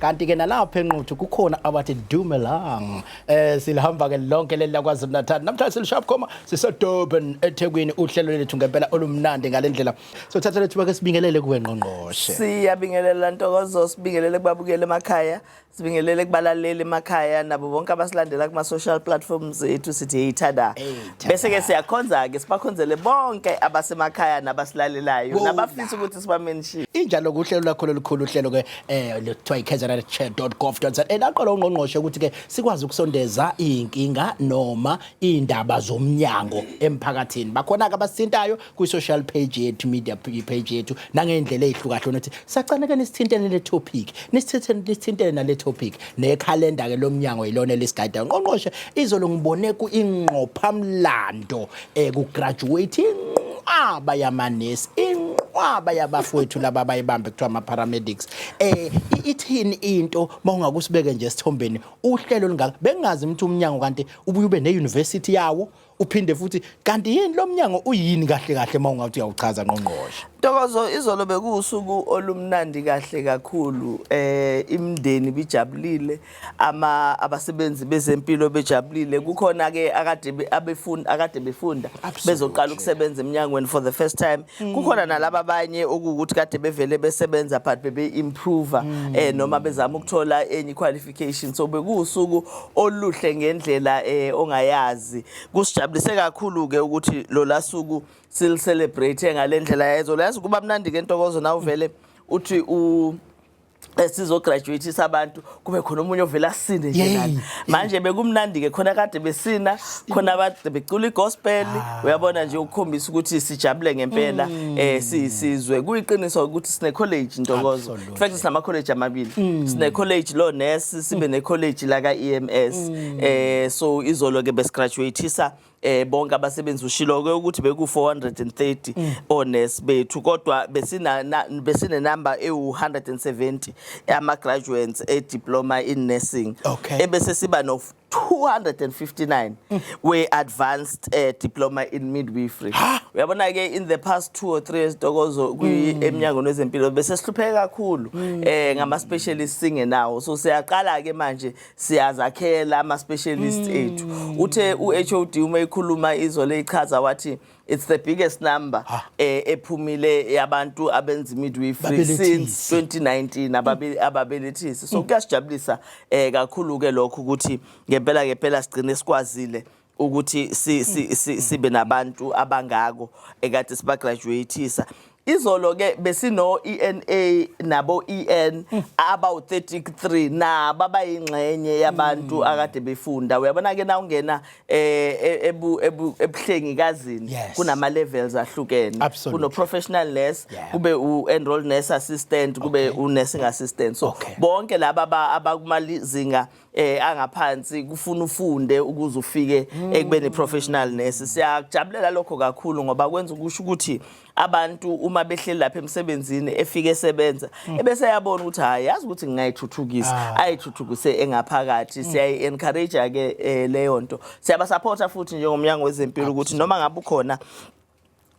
kanti ke nalapha enquthu kukhona abathi dumelang eh silihamba ke lonke leli lakwazulu natal namhlanje silishap khoma sisedurban ethekwini uhlelo lethu ngempela olumnandi ngalendlela sothatha lethu bake sibingelele kuwe ngqongqoshe siyabingelela ntokozo sibingelele kubabukeli emakhaya sibingelele kubalaleli emakhaya nabo bonke abasilandela kuma social platforms ethu sithi yithanda bese ke siyakhonza ke sibakhonzele bonke abasemakhaya nabasilalelayo nabafisa ukuthi sibamenshi injalo kuhlelo lakho lolukhulu uhlelo ke eh kuthiwa ikzrchat.gov.za elaqola ungqongqoshe ukuthi ke sikwazi ukusondeza inkinga noma indaba zomnyango emphakathini bakhona ke abasintayo kwi social page yethu media page yethu nangendlela ezihlukahlukene ukuthi sacaneke nisithintene le topic nisithintene nisithintene nale topic ne calendar ke lomnyango yilona lesigayida ungqongqoshe izolo ngibone ku ingqophamlando ekugraduate inqwaba yamanesi inqwaba yabafowethu laba bayibambe kuthiwa ama-paramedics eh i- ithini into uma ungakusibeke nje esithombeni uhlelo olungaka bengingazi ukuthi umnyango kanti ubuye ube ne-university yawo uphinde futhi kanti yini lo mnyango uyini kahle kahle uma ungathi uyawuchaza ngqongqoshe Ntokozo izolo bekuwusuku olumnandi kahle kakhulu eh imndeni bijabulile ama abasebenzi bezempilo bejabulile kukhona ke akade be- abefunda akade befunda bezoqala ukusebenza eminyangweni for the first time kukhona nalabo abanye okuwukuthi kade bevele besebenza but bebe improve eh noma bezama ukuthola enye qualification so bekuwusuku oluhle ngendlela eh ongayazi kusijabulise kakhulu ke ukuthi lo lasuku sil celebrate ngalendlela yezo lazi kuba mnandi ke ntokozo nawuvele uthi u esizograduatisa abantu kube khona omunye ovela asine nje nani manje bekumnandi ke khona kade besina khona abantu becula igospel ah. uyabona nje ukukhombisa ukuthi sijabule ngempela mm. eh sizwe kuyiqiniso ukuthi sine college ntokozo in fact sinama college amabili mm. sine college lo nurse sibe mm. ne college la ka EMS eh so izolo ke besigraduatisa eh bonke abasebenzi ushilo ke ukuthi beku 430 mm. honest bethu kodwa besina besine number ewu 170 ama graduates e diploma in nursing okay. ebese siba no 259 mm. we advanced uh, diploma in midwifery uyabona ke in the past 2 or 3 years dokozo kwi mm. eminyango nezempilo bese sihlupheka kakhulu mm. eh ngama specialist singenawo so siyaqala ke manje siyazakhela ama-specialist mm. ethu uthe u-hod uma ekhuluma izwe leyichaza wathi it's the biggest number ah. eh, ephumile yabantu abenza imidwifery since 2019 ababelethisi so mm. kuyasijabulisa um kakhulu-ke lokho ukuthi ngempela ngempela sigcine sikwazile ukuthi si, si, si, sibe nabantu abangako ekade sibagraduatisa izolo ke besino ENA nabo EN abawu 33 nabo abayingxenye yabantu mm. akade befunda uyabona ke na ungena eh, e, ebu ebuhlengi kazini kunama levels ahlukene kuno professional nurse kube u enrolled nurse assistant kube u nursing assistant so bonke laba abakuma zinga eh angaphansi kufuna ufunde ukuze ufike ekubeni professional nurse siyakujabulela lokho kakhulu ngoba kwenza ukusho ukuthi abantu uma behleli lapha emsebenzini efike esebenza mm. ebese yabona ukuthi hayi yazi ukuthi ngingayithuthukisa ah. ayithuthukise engaphakathi mm. siyayi encourage ke eh, leyo nto siyaba supporta futhi njengomnyango wezempilo ukuthi noma ngabe ukhona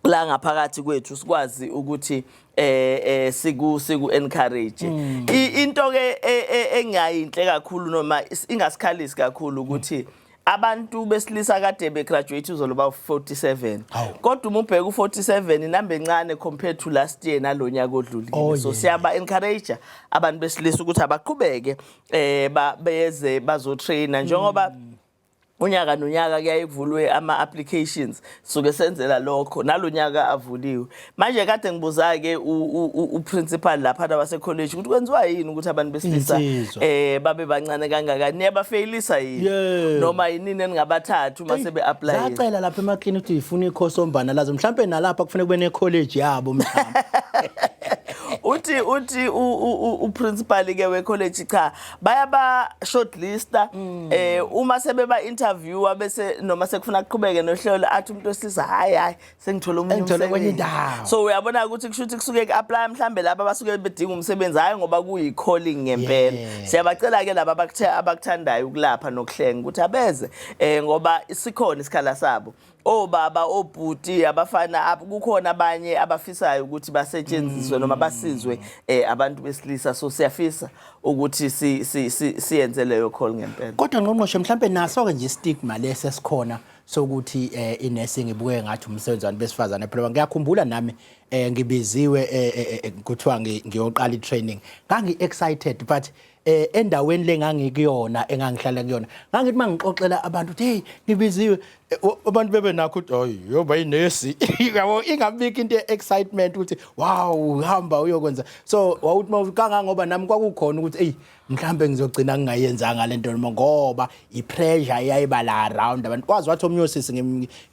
la ngaphakathi kwethu sikwazi ukuthi eh eh siku siku encourage mm. into ke e, e, engayinhle kakhulu noma ingasikhalisi kakhulu ukuthi mm. abantu besilisa kade be graduate uzolo ba 47 kodwa uma ubheka u47 inamba encane compared to last year nalonyaka odlulile oh, so siyaba encourage abantu besilisa ukuthi abaqhubeke eh beze bazo trainer njengoba mm. unyaka nonyaka kuyaye kuvulwe ama-applications suke senzela lokho nalo nyaka avuliwe manje kade ngibuza-ke uprincipal laphana wasekholeji ukuthi kwenziwa yini ukuthi abantu besilisa um babe bancane kangakani niyabafeyilisa yini noma yinini eningabathatha uma sebe-aplaye zacela lapha emakini ukuthi yifuna ikhosi ombana lazo mhlawumpe nalapha kufuneka kube nekholeji yabo mhlawumbe uthi uthi uprincipal ke wecollege cha bayaba shortlista mm. eh uma sebeba interviewer bese noma sekufuna kuqhubeke nohlelo athi umuntu wesilisa hayi hayi sengithola omunye umsebenzi so uyabona ukuthi kushuthi kusuke ku-apply mhlambe laba basuke bedinga umsebenzi hayi ngoba kuyi-calling ngempela yeah. siyabacela ke laba abakuthandayo ukulapha nokuhlenga ukuthi abeze eh ngoba sikhona isikhala sabo obaba obhuti abafana ab- kukhona abanye abafisayo ukuthi basetshenziswe noma basizwe eh, abantu besilisa so siyafisa ukuthi si- si- si- siyenze leyo call ngempela kodwa ngqongqoshe mhlampe naso-ke nje istigma lesi esikhona sokuthi um inursing ibukeke ngathi umsebenzi wabantu besifazane phela ngiyakhumbula nami um ngibiziwe eh, eh, eh, kuthiwa ngi- ngiyoqala i-training ngangi-excited but eh endaweni lengangikuyona engangihlala kuyona ngangithi mangixoxela abantu ukuthi hey ngibiziwe eh, abantu bebe nakho ukuthi hayi yoba inesi yabo ingabiki into excitement ukuthi wow uhamba uyokwenza so wawuthi mawukangangoba nami kwakukhona ukuthi hey mhlambe ngizogcina ngingayenzanga lento noma ngoba ipressure eyayiba la around abantu kwazi wathi omnye osisi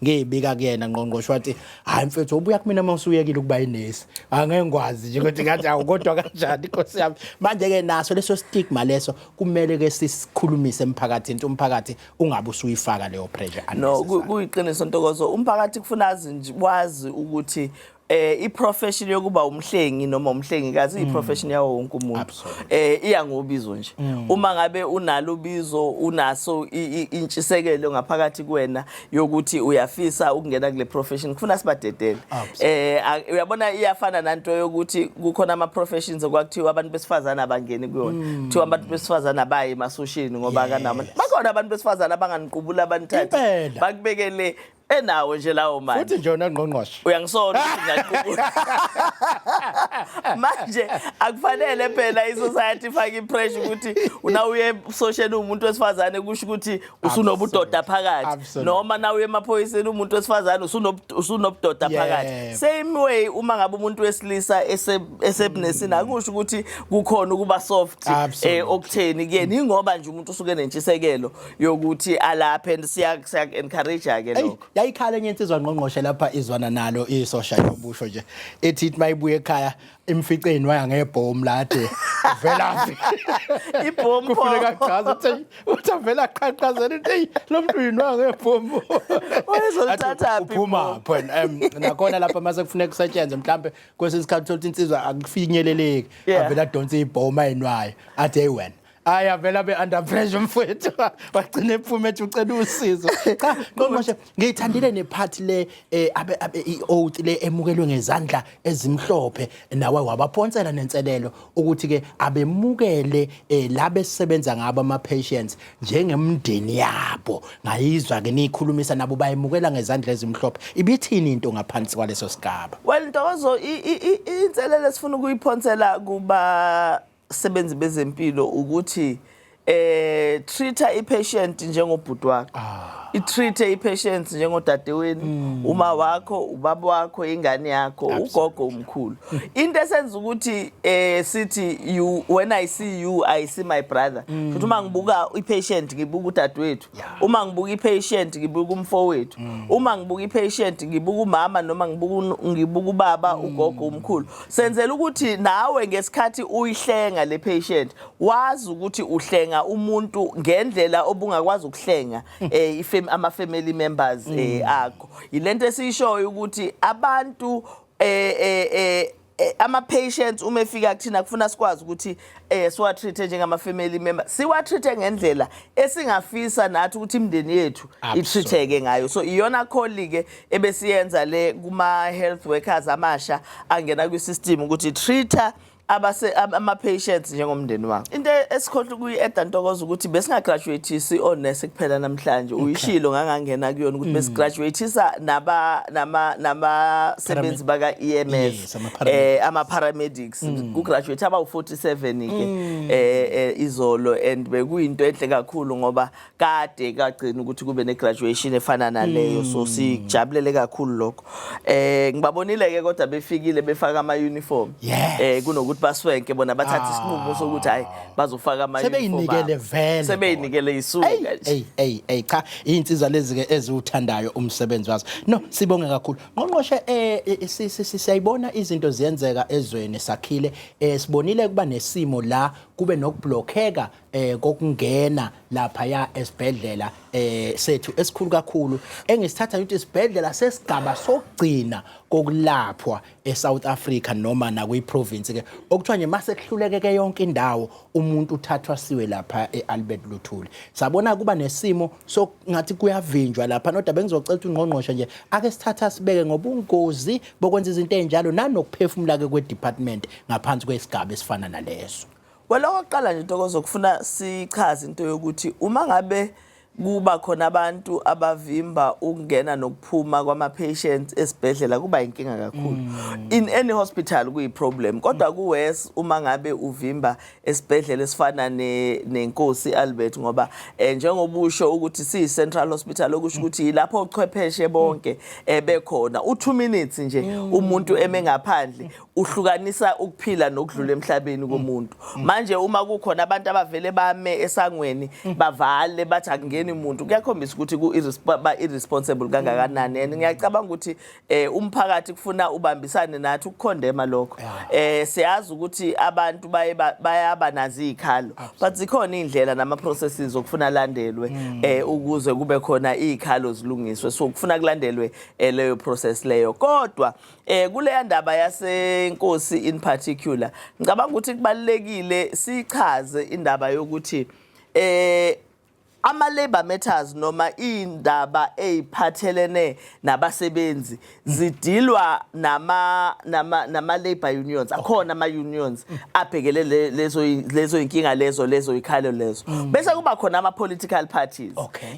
ngiyibika kuyena ngqongqoshe wathi hayi mfethu ubuya kumina uma usuyekile ukuba yinesi angeke ngikwazi nje ukuthi ngathi awu kodwa kanjani inkosi yami manje-ke naso leso stigma leso kumele-ke sisikhulumise emphakathini ukuthi umphakathi ungabe usuyifaka leyo pressure no kuyiqiniso ntokozo umphakathi kufuna azi wazi ukuthi eh iprofession yokuba umhlengi noma umhlengikazi mm. iprofession yawo wonke umuntu eh iya ngobizo nje mm. uma ngabe unalo ubizo unaso intshisekelo ngaphakathi kuwena yokuthi uyafisa ukungena kule profession kufuna sibadedele eh uyabona iyafana nanto yokuthi kukhona ama professions okwakuthiwa abantu besifazana abangeni kuyona mm. kuthiwa abantu besifazana baye emasoshini ngoba kanama bakhona abantu besifazana abanganiqubula abanthathu bakubekele enawo nje lawo manje futhi nje unangqongqoshe uyangisola ukuthi ngaqubula manje akufanele phela i-society ifake i-pressure ukuthi unawuye ebusosheni uwumuntu wesifazane kusho ukuthi usunobudoda phakathi Absolutely. noma nawuye emaphoyiseni umuntu wesifazane usunob- usunobudoda Yebo. phakathi same way uma ngabe umuntu wesilisa ese- esebunesini akusho ukuthi kukhona ukuba soft eh, Absolutely. okutheni kuyena ingoba nje umuntu usuke nentshisekelo yokuthi alaphe and siya siya encourage ke lokho yayikhala enye insizwa ngqongqoshe lapha izwana nalo isosha yobusho nje ethi ithi mayibuye ekhaya imficeni waya ngebhomu lade velaphi ibhomu kufuneka achaze ukuthi uthi avela qhaqhazela into eyi lo muntu uyinwa ngebhomu wayezolithatha phi uphuma phela nakhona lapha mase kufuneka kusetshenzwe mhlambe kwesinye isikhathi uthola insizwa akufinyeleleki avela donsa ibhomu ayinwayo athi hey wena hayi avela be-under pressure mfowethu wagcina ephuma ethi ucela usizo cha qomoshe ngiyithandile nephathi le eh, abe- abe- i-oath le emukelwe ngezandla ezimhlophe nawe wabaphonsela nenselelo ukuthi-ke abemukele um la besebenza ngabo ama-patients njengemndeni yabo ngayizwa-ke niyikhulumisa nabo bayemukela ngezandla ezimhlophe ibithini into ngaphansi kwaleso sigaba well ntokozo i- i- i- inselelo esifuna ukuyiphonsela kuba sebenzi bezempilo ukuthi eh treata ipatient njengobhuti wakho ah. itreate ipatient njengodadeweni mm. uma wakho ubaba wakho ingane yakho ugogo umkhulu into esenza ukuthi eh sithi you when i see you i see my brother futhi mm. uma ngibuka ipatient ngibuka udadewethu uma ngibuka i-patient ngibuka umfowethu mm. uma ngibuka i-patient ngibuka umama noma ngibuka ubaba mm. ugogo umkhulu senzela ukuthi nawe ngesikhathi uyihlenga le patient wazi ukuthi uhlenga umuntu ngendlela obungakwazi ukuhlenga mm. eh, ama-family members eh, akho yilento esiyishoyo ukuthi abantu eh, eh, eh, Eh, ama-patients uma efika kuthina kufuna sikwazi ukuthi um siwa-treat-e njengama-family member siwa-treat-e ngendlela esingafisa nathi ukuthi imindeni yethu i-treat-eke ngayo so iyona kholi-ke ebesiyenza le kuma-health workers amasha angena kwi-system ukuthi treat-a ama-patients njengomndeni wakho into esikhohlwa kuyi-eda ntokoza ukuthi besingagraduatisi onesi kuphela namhlanje uyishilo ngangangena kuyona ukuthi mm. besigraduatisa nabasebenzi baka-ems um eh, ama-paramedics mm. kugraduate abawu-47-ke um mm. eh, eh, izolo and bekuyinto enhle kakhulu ngoba kade kagcina ukuthi kube ne-graduation efana naleyo so hmm. sijabulele kakhulu lokho eh ngibabonile ke kodwa befikile befaka ama uniform eh kunokuthi baswenke bona bathatha ah. isinqumo sokuthi hayi bazofaka ama uniform sebeyinikele vele sebeyinikele isuka hey hey hey cha izinsizwa lezi ke eziwuthandayo umsebenzi wazo no sibonge kakhulu ngqongqoshe eh, eh siyayibona izinto ziyenzeka ezweni sakhile eh sibonile kuba nesimo la kube nokublockeka eh kokungena lapha ya esibhedlela eh sethu esikhulu kakhulu engisithatha ukuthi isibhedlela sesigaba sokugcina kokulaphwa eSouth Africa noma nakwi province ke okuthiwa nje mase kuhluleke ke yonke indawo umuntu uthathwa siwe lapha eAlbert Luthuli sabona kuba nesimo sokungathi kuyavinjwa lapha nodwa bengizocela ukuthi ungqongqoshe nje ake sithatha sibeke ngobungozi bokwenza izinto ezinjalo nanokuphefumula ke kwe department ngaphansi kwesigaba esifana naleso Well okokuqala nje Ntokozo kufuna sichaze into yokuthi uma ngabe kuba khona abantu abavimba ukungena nokuphuma kwama-patients esibhedlela kuba yinkinga kakhulu mm. in any hospital kuyi-problem kodwa kuwes uma ngabe uvimba esibhedlela esifana nenkosi albert ngoba um njengoba usho ukuthi siyi-central hospital okusho mm. ukuthi yilapho ochwepheshe bonke um bekhona u-two minutes nje mm. umuntu eme ngaphandle uhlukanisa ukuphila nokudlula emhlabeni mm. komuntu mm. manje uma kukhona abantu abavele bame esangweni mm. bavale bathi akungeni umuntu kuyakhombisa ukuthi ku irresponsible kangakanani and ngiyacabanga ukuthi eh, umphakathi kufuna ubambisane nathi ukukhondema lokho eh siyazi ukuthi abantu baye bayaba nazi ikhalo but zikhona indlela nama processes okufuna landelwe eh ukuze kube khona ikhalo zilungiswe so kufuna kulandelwe eh, leyo process leyo kodwa Eh kuleya ndaba yasenkosi in particular ngicabanga ukuthi kubalekile sichaze indaba yokuthi eh ama labor matters noma indaba eziphathelene nabasebenzi zidilwa nama nama nama labor unions akhona ama unions abhekele lezo lezo inkinga lezo lezo ikhalo lezo bese kuba khona ama political parties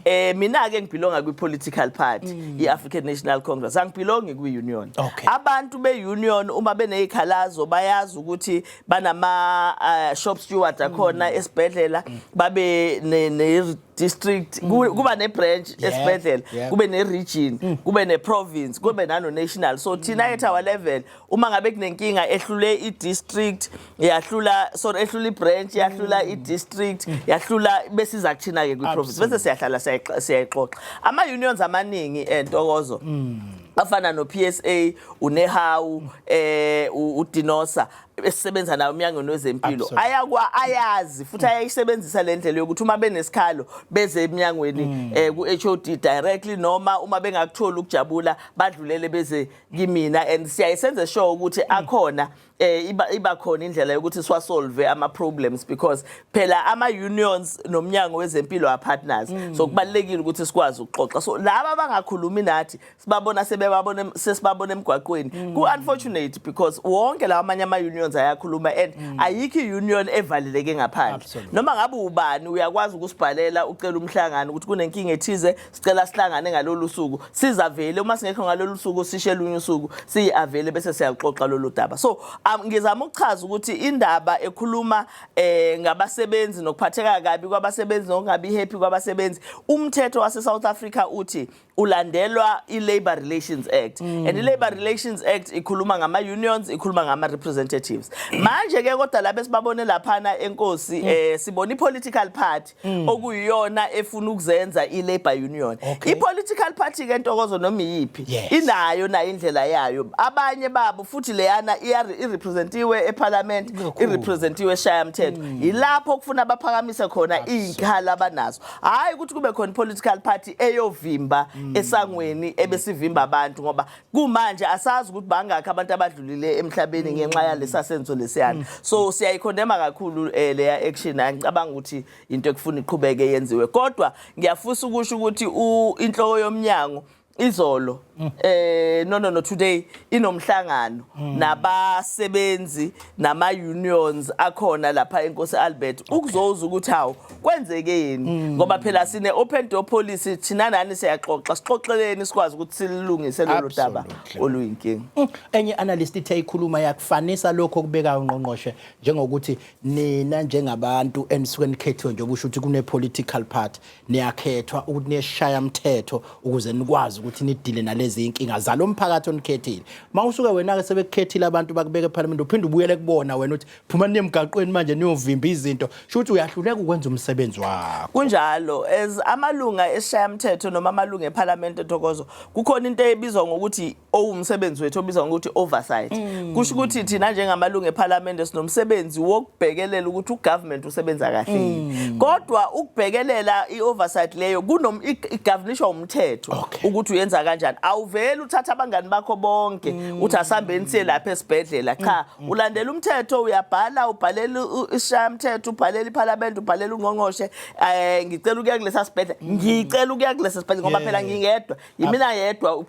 eh mina ke ngibhilonga kwi political party mm. i African National Congress angibhilongi kwi union okay. abantu be union uma benezikhalazo bayazi ukuthi banama uh, shop steward akhona mm. esibhedlela mm. babe ne, ne district mm. kuba ne branch yeah. esibhedlela yeah. kube ne region mm. kube ne province kube nano national so thina mm. at our level uma ngabe kunenkinga ehlule i-district yahlula sorry ehlula i-branch yahlula mm. i-district mm. yahlula besiza kuthina-ke kwi-province bese siyahlala siyayixoxa ama-unions amaningi entokozo eh, mm. afana no-psa unehawu eh udinosa esisebenza nayo emnyangweni wezempilo ayakwa ayazi futhi ayayisebenzisa le ndlela yokuthi uma benesikhalo beze emnyangweni um ku-h o d directly noma uma bengakutholi ukujabula badlulele beze kimina and siyaye senze sure ukuthi mm. akhona eh iba iba khona indlela yokuthi siwa solve ama problems because phela ama unions nomnyango wezempilo a partners mm. so kubalekile ukuthi sikwazi ukuxoxa so laba abangakhulumi nathi sibabona sebebabona sesibabona emgwaqweni mm. ku unfortunate because wonke lawa amanye ama unions ayakhuluma and mm. ayikho union evaleleke ngaphandle noma ngabe ubani uyakwazi ukusibhalela ucela umhlangano ukuthi kunenkinga ethize sicela sihlangane ngalolu suku sizavele uma singekho ngalolu suku sishe lunye usuku siyi-avele bese siyaluxoxa lolu daba so um, ngizama ukuchaza ukuthi indaba ekhuluma eh ngabasebenzi nokuphatheka kabi kwabasebenzi nokungabi happy kwabasebenzi umthetho wase-south africa uthi ulandelwa i-labor relations act mm. and i-labor relations act ikhuluma ngama-unions ikhuluma ngama-representatives manje-ke kodwa laba esibabone laphana enkosi mm. eh sibona i-political party mm. okuyiyona efuna ukuzenza i-labor union okay. i-political party ke ntokozo noma iyiphi yes. inayo nayo indlela yayo abanye babo futhi leyana irepresentiwe ephalamenti irepresentiwe eshayamthetho mm. yilapho kufuna baphakamise khona iy'nkhala abanazo hhayi ukuthi kube khona i-political party eyovimba mm. esangweni ebesivimba abantu ngoba kumanje asazi ukuthi bangakhi abantu abadlulile emhlabeni mm. ngenxa yalesa senzo lesiyana mm. so siyayikhondema kakhulu eh, leya action angicabanga ukuthi into ekufuna iqhubeke yenziwe kodwa ngiyafusa ukusho ukuthi inhloko yomnyango izolo mm. eh no no no today inomhlangano mm. nabasebenzi nama unions akhona lapha eNkosi Albert ukuzoza ukuthi hawo kwenzekeni mm. ngoba phela sine open door policy thina nani siyaxoxa sixoxeleni sikwazi ukuthi silungise lolu daba oluyinkinga mm. enye analyst ithe ikhuluma yakufanisa lokho kubeka ungqongqoshe njengokuthi nina njengabantu enisuke nikhethiwe njengoba usho ukuthi kune political party niyakhethwa ukuthi niyeshaya mthetho ukuze nikwazi ukuthi nidile nalezi inkinga zalo mphakathi onikhethile uma usuke wena-ke sebekukhethile abantu bakubeka ephalamende uphinde ubuyele kubona wena ukuthi phuma niyemgaqweni manje niyovimba izinto sho ukuthi uyahluleka ukwenza umsebenzi wakho kunjalo as amalunga esishayamthetho noma amalunga ephalamende thokozo kukhona into ebizwa ngokuthi owumsebenzi wethu obizwa ngokuthi oversight mm. kusho ukuthi thina njengamalungu ePhalamende sinomsebenzi wokubhekelela ukuthi ugovernment usebenza kahle mm. kodwa ukubhekelela ioversight leyo kunom igovernishwa umthetho okay. ukuthi uyenza kanjani awuveli uthatha abangani bakho bonke mm. uthi asambeni siye lapha esibhedlela cha mm. mm. ulandela umthetho uyabhala ubhalela isishaya umthetho ubhalela iPhalamende ubhalela ungqongqoshe eh ngicela ukuya kulesa sibhedlela mm. ngicela ukuya kulesa sibhedlela ngoba phela ngingedwa yimina yedwa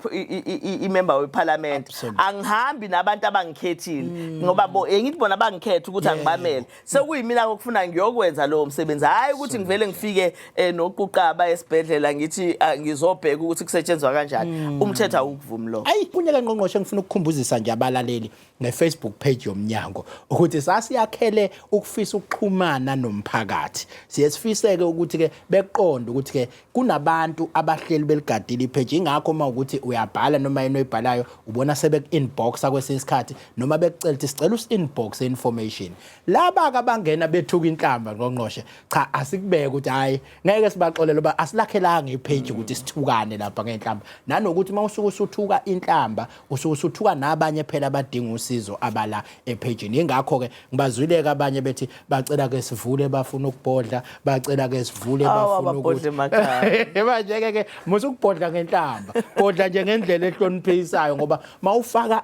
imember weParliament angihambi nabantu abangikhethile mm. ngoba bo engithi bona bangikhetha ukuthi angibamele sekuyimina kokufuna ngiyokwenza lowo msebenzi hayi ukuthi ngivele ngifike eh, noquqaba esibhedlela ngithi ah, ngizobheka ukuthi kusetshenzwa kanjani mm. umthetho awukuvumi lo ayi kunyaka ngqongqoshe ngifuna ukukhumbuzisa nje abalaleli ngeFacebook page yomnyango ukuthi sasiyakhele ukufisa ukuxhumana nomphakathi siye sifiseke ukuthi ke beqonde ukuthi ke kunabantu abahleli beligadile ipage ingakho uma ukuthi uyabhala noma yini oyibhalayo ubona sebeku inboxa kwesinye isikhathi noma bekucela ukuthi sicela us inbox information laba abangena bethuka inhlamba ngqongqoshe cha asikubeke ukuthi hayi ngeke sibaxolele uba asilakhelanga ipage ukuthi sithukane lapha ngenhlamba nanokuthi uma usuke usuthuka inhlamba usuke usuthuka nabanye phela abadinga usizo abala ephejini ingakho ke ngibazwileke abanye bethi bacela ke sivule bafuna ukubhodla bacela ke sivule bafuna ukuthi manje ke ke musa ukubhodla ngenhlamba bhodla nje ngendlela ehloniphisayo ngoba mawufaka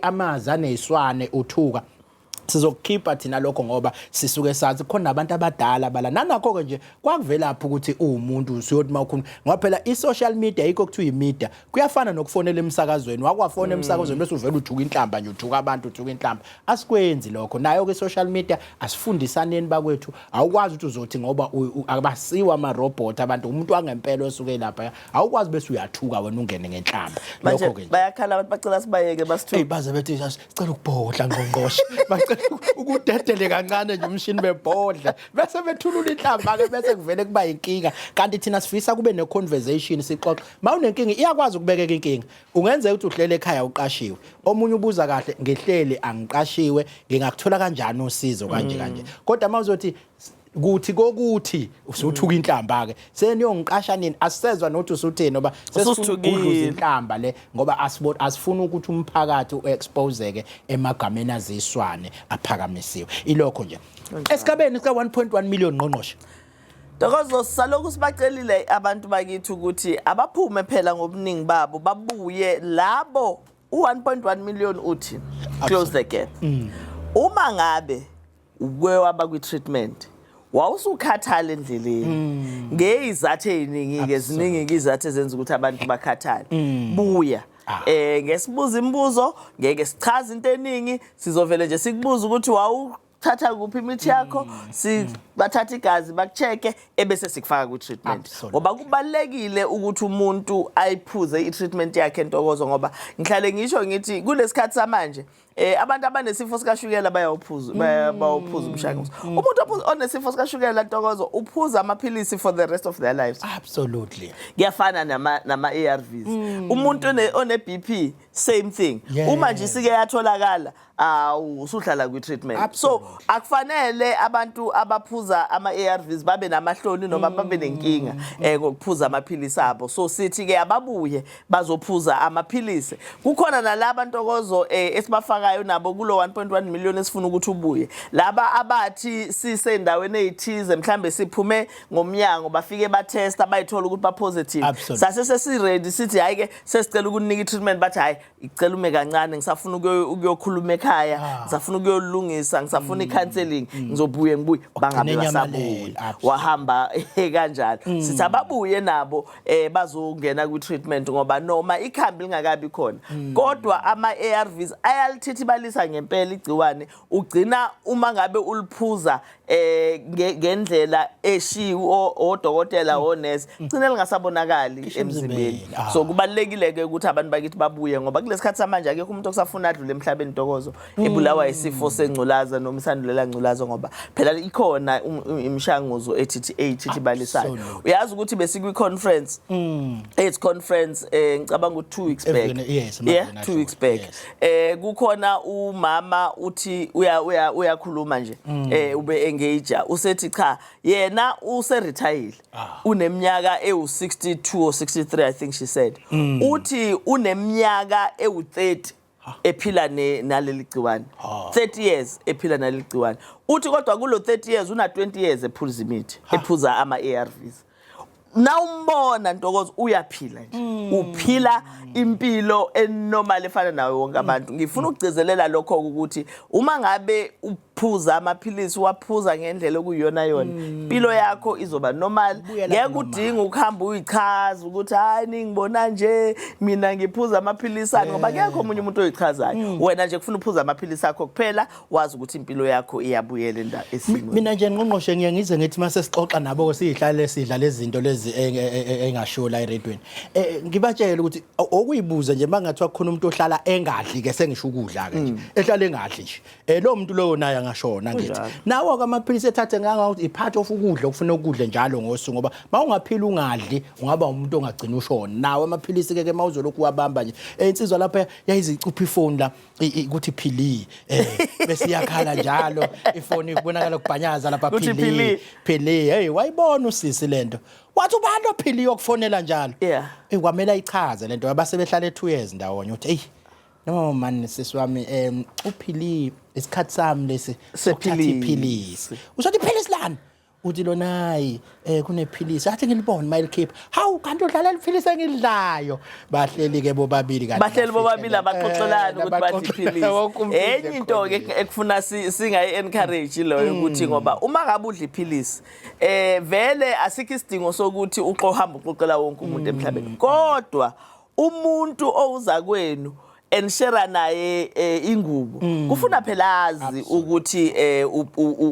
amazi aneswane uthuka sizokukhipha thina lokho ngoba sisuke sazi khona abantu abadala bala nanakho-ke nje kwakuvelaphi ukuthi uwumuntu usuyothi uma ukhuluma ngoba phela i-social media yikho kuthiwa i-media kuyafana nokufonela emsakazweni wakwafona mm. emsakazweni bese uvele uthuka inhlamba nje uthuka abantu uthuka inhlamba asikwenzi lokho nayo-ke i-social media asifundisaneni bakwethu awukwazi ukuthi uzothi ngoba abasiwa amarobhoti abantu umuntu wangempela osuke lapha awukwazi bese uyathuka wena ungene ngenhlamba lokho-ke bayakhala abantu bacela sibayeke basithuke baze bethi cela ukubhodla ngqongqoshe bacela ukudedele kancane nje umshini bebhodla bese bethulula inhlamba ke bese kuvele kuba inkinga kanti thina sifisa kube ne conversation sixoxe mawunenkinga iyakwazi ukubekeka inkinga ungenzeka ukuthi uhlele ekhaya uqashiwe omunye ubuza kahle ngihleli angiqashiwe ngingakuthola kanjani usizo kanje kanje kodwa mawuzothi kuthi kokuthi usuthuka inhlamba ke seniyongiqasha nini asisezwa nothi usuthini ngoba sesifuna inhlamba le ngoba asibona asifuna ukuthi umphakathi uexpose ke emagameni aziswane aphakamisiwe ilokho nje esigabeni sika 1.1 million ngqongqoshe Dokozo salokhu sibacelile abantu bakithi ukuthi abaphume phela ngobuningi babo babuye labo u1.1 million uthi close the gap mm. uma ngabe ubuye waba kwi-treatment wawusukhathala endleleni mm. ngeyizathu eziningi-ke ziningi-ke izathu ezenza ukuthi abantu bakhathale mm. buya ah. eh ngesibuza imibuzo ngeke sichaze into eningi sizovele nje sikubuza ukuthi wawu thatha kuphi imithi yakho mm. sibathatha mm. igazi bakucheke ebese sikufaka kwi-treatment ngoba kubalulekile ukuthi umuntu ayiphuze i-treatment yakhe entokozo ngoba ngihlale ngisho ngithi kulesikhathi samanje Eh abantu abanesifo sikashukela bayawuphuza mm. bawuphuza umshanguzo. Mm. Umuntu onesifo sikashukela ntokozo uphuza amaphilisi for the rest of their lives. Absolutely. Kuyafana nama nama ARVs. Mm. Umuntu one BP same thing. Uma nje sike yatholakala awu usuhlala kwi treatment. So akufanele abantu abaphuza ama ARVs babe namahloni noma babe nenkinga eh ngokuphuza amaphilisi abo. So sithi ke ababuye bazophuza amaphilisi kukhona nalaba ntokozo eh, esibafakayo nabo kulo 1.1 million esifuna ukuthi ubuye laba abathi sisendaweni ezithize mhlambe siphume ngomnyango bafike batesta bayithola ukuthi ba positive Absolutely. sase sesiready sithi hayi ke sesicela ukunika treatment bathi hayi icela ume kancane ngisafuna ukuyo- ukuyokhuluma ekhaya Ah. ngisafuna ukuyolungisa ngisafuna Mm. i-counseling ngizobuye ngibuye bangabe Nenyama basabuye leli, absolutely. wahamba kanjalo sithi ababuye nabo eh bazongena kwi treatment ngoba noma ikhambi lingakabi khona hmm. kodwa ama ARVs ayalithithi balisa ngempela igciwane ugcina uma ngabe uliphuza eh ngendlela eshiwo odokotela hmm. onesi hmm. gcina lingasabonakali emzimbeni ah. so kubalekile ke ukuthi abantu bakithi babuye ngoba kulesikhathi samanje akekho umuntu okusafuna adlule emhlabeni dokozo ebulawa hmm. isifo sengculaza noma isandulela ngculaza ngoba phela ikhona um, um, imishanguzo ethithi eyithithi balisayo uyazi ukuthi besikwi conference hmm. AIDS conference eh ngicabanga ukuthi 2 weeks back yes yeah 2 weeks back eh kukhona umama uthi uya uya uyakhuluma nje hmm. eh ube engage usethi cha yena use retire ah. uneminyaka ewu 62 or 63 i think she said uthi uneminyaka ewu 30 ephila ne naleli gciwane 30 years ephila naleli gciwane uthi kodwa kulo 30 years una 20 years ephuza imithi ephuza ama ARVs nawumbona ntokozo uyaphila nje mm. uphila impilo enormal efana nawe wonke mm. abantu ngifuna ukugcizelela lokho ukuthi uma ngabe phuza amaphilisi waphuza ngendlela okuyiyona yona mm. impilo yakho izoba normal ngeke udinga ukuhamba uyichaza ukuthi hayi ningibona nje mina ngiphuza amaphilisi akhe ngoba kekho omunye umuntu oyichazayo mm. wena nje kufuna uphuza amaphilisi akho kuphela wazi ukuthi impilo yakho iyabuyela enda esimweni mina nje ngqongqoshe ngiye ngize ngithi mase sixoxa nabo ke sihlale sidla lezi zinto lezi e, e, e, engashiwo la eredweni eh, ngibatshele ukuthi okuyibuza nje mangathi wakhona umuntu ohlala engadli ke sengisho ukudla ke nje mm. ehlala engadli nje eh lo muntu loyo naye angashona ngithi nawo ke amaphilisi ethathe nganga i part of ukudla ukufuna ukudle njalo ngosuku ngoba mawungaphila ungadli ungaba umuntu ongagcina ushona nawo amaphilisi ke ke mawuzolokhu wabamba nje eh, insizwa lapha yayizicupha ifoni la ukuthi phili eh bese yakhala njalo ifoni kubonakala ukubhanyaza lapha phili phili hey wayibona usisi lento wathi ubani ophili yokufonela njalo eh kwamela ichaze lento abasebehlala e2 years ndawonye uthi hey No man sisi wami um uphilile isikhathi sami lesi sokuthatha Sephilisi. iphilisi. Uzothi iphilisi lani? Uthi lona hayi eh kunephilisi athi ngilibone mayikhipha. Hawu kanti udlala iphilisi engidlayo. Bahleli ke bobabili kanti. bahleli bobabili bafihlele. abaxoxelani Eh, ukuthi bathi abaxoxelana, iphilisi wonke umuntu enye into ke ekhona. ekufuna si- singayi-encourage loyo Mm. ukuthi ngoba uma ngabe udla iphilisi um vele asikho isidingo sokuthi uxohamba uxoxela wonke umuntu Mm. emhlabeni kodwa umuntu owuza kwenu and share naye eh, ingubo mm. kufuna phela azi ukuthi eh,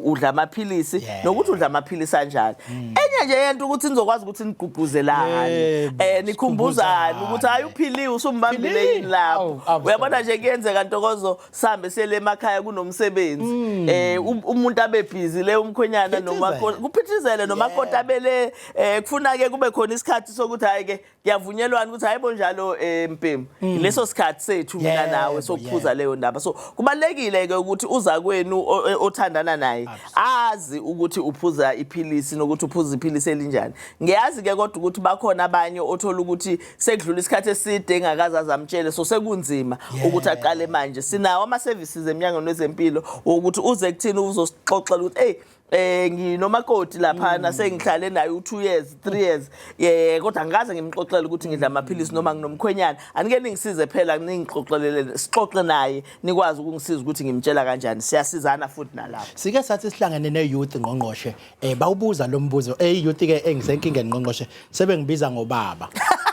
udla amaphilisi nokuthi udla amaphilisi anjani mm. enye nje yento ukuthi nizokwazi ukuthi nigqugquzelane eh nikhumbuzane ukuthi hayi uphiliwe usumbambile yini lapho uyabona nje kuyenzeka ntokozo sihambe sele emakhaya kunomsebenzi mm. eh um, umuntu abe busy le umkhwenyana noma kuphithizele noma kodwa bele eh, kufuna ke kube khona isikhathi sokuthi hayi ke kuyavunyelwana ukuthi hayibo njalo eh mpemu mm. leso sikhathi sethu mina nawe sokuphuza leyo ndaba so kubalekile ke ukuthi uza kwenu eh, othandana naye azi ukuthi uphuza iphilisi nokuthi uphuza iphilisi elinjani ngiyazi ke kodwa ukuthi bakhona abanye othola ukuthi sekudlula isikhathi eside engakaza zamtshele so sekunzima ukuthi aqale manje sinawo ama services emnyangweni wezempilo ukuthi uze kuthini uzosixoxela ukuthi hey eh nginomakoti laphana mm. sengihlale naye u2 years 3 years eh kodwa ngikaze ngimxoxele ukuthi ngidla mm. amaphilisi noma nginomkhwenyana anike ningisize phela ningixoxelele sixoxe naye nikwazi ukungisiza ukuthi ngimtshela kanjani siyasizana futhi nalapho sike sathi sihlangene ne youth ngqongqoshe eh bawubuza lo mbuzo eh youth ke engisenkingeni ngqongqoshe sebengibiza ngobaba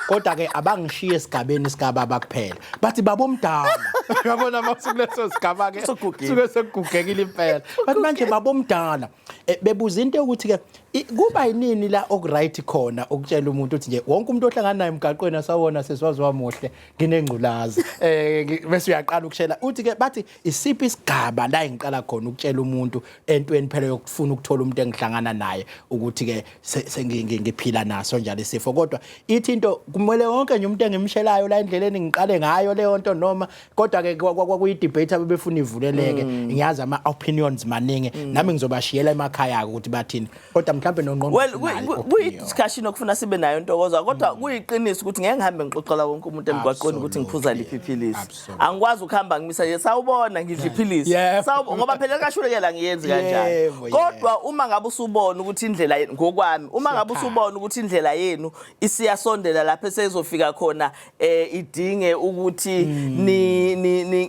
kodwa ke abangishiye esigabeni sikababa kuphela bathi baba omdala yabona masukuleso sigaba ke suke sekugugekile impela bathi manje baba omdala eh, bebuza into yokuthi ke kuba yinini la okuright khona ukutshela umuntu ukuthi nje wonke umuntu ohlangana naye emgaqweni asawona seswazi wamuhle nginengculazi eh bese uyaqala ukushela uthi ke bathi isiphi isigaba la engiqala khona ukutshela umuntu entweni phela yokufuna ukuthola umuntu engihlangana naye ukuthi ke sengiphila naso njalo isifo kodwa ithi into kumele wonke nje umuntu engimshelayo la endleleni ngiqale ngayo leyo nto noma kodwa ke kwakuyi debate abebefuna ivuleleke mm. ngiyazi ama opinions maningi mm. nami ngizobashiyela emakhaya ukuthi bathini kodwa mhlawumbe nongqongqo kuyi-discussion okufuna sibe nayo ntokozwa kodwa mm. kuyiqiniso ukuthi ngeke ngihambe ngixoxela wonke umuntu emgwaqweni ukuthi ngiphuza liphi iphilisi angikwazi ukuhamba ngimisa ye sawubona ngidla iphilisi ngoba phela likashulekela ngiyenzi kanjani kodwa uma ngabe usubona ukuthi indlela ngokwami uma ngabe usubona ukuthi indlela yenu isiyasondela lapho esezofika khona eh idinge ukuthi hmm. ni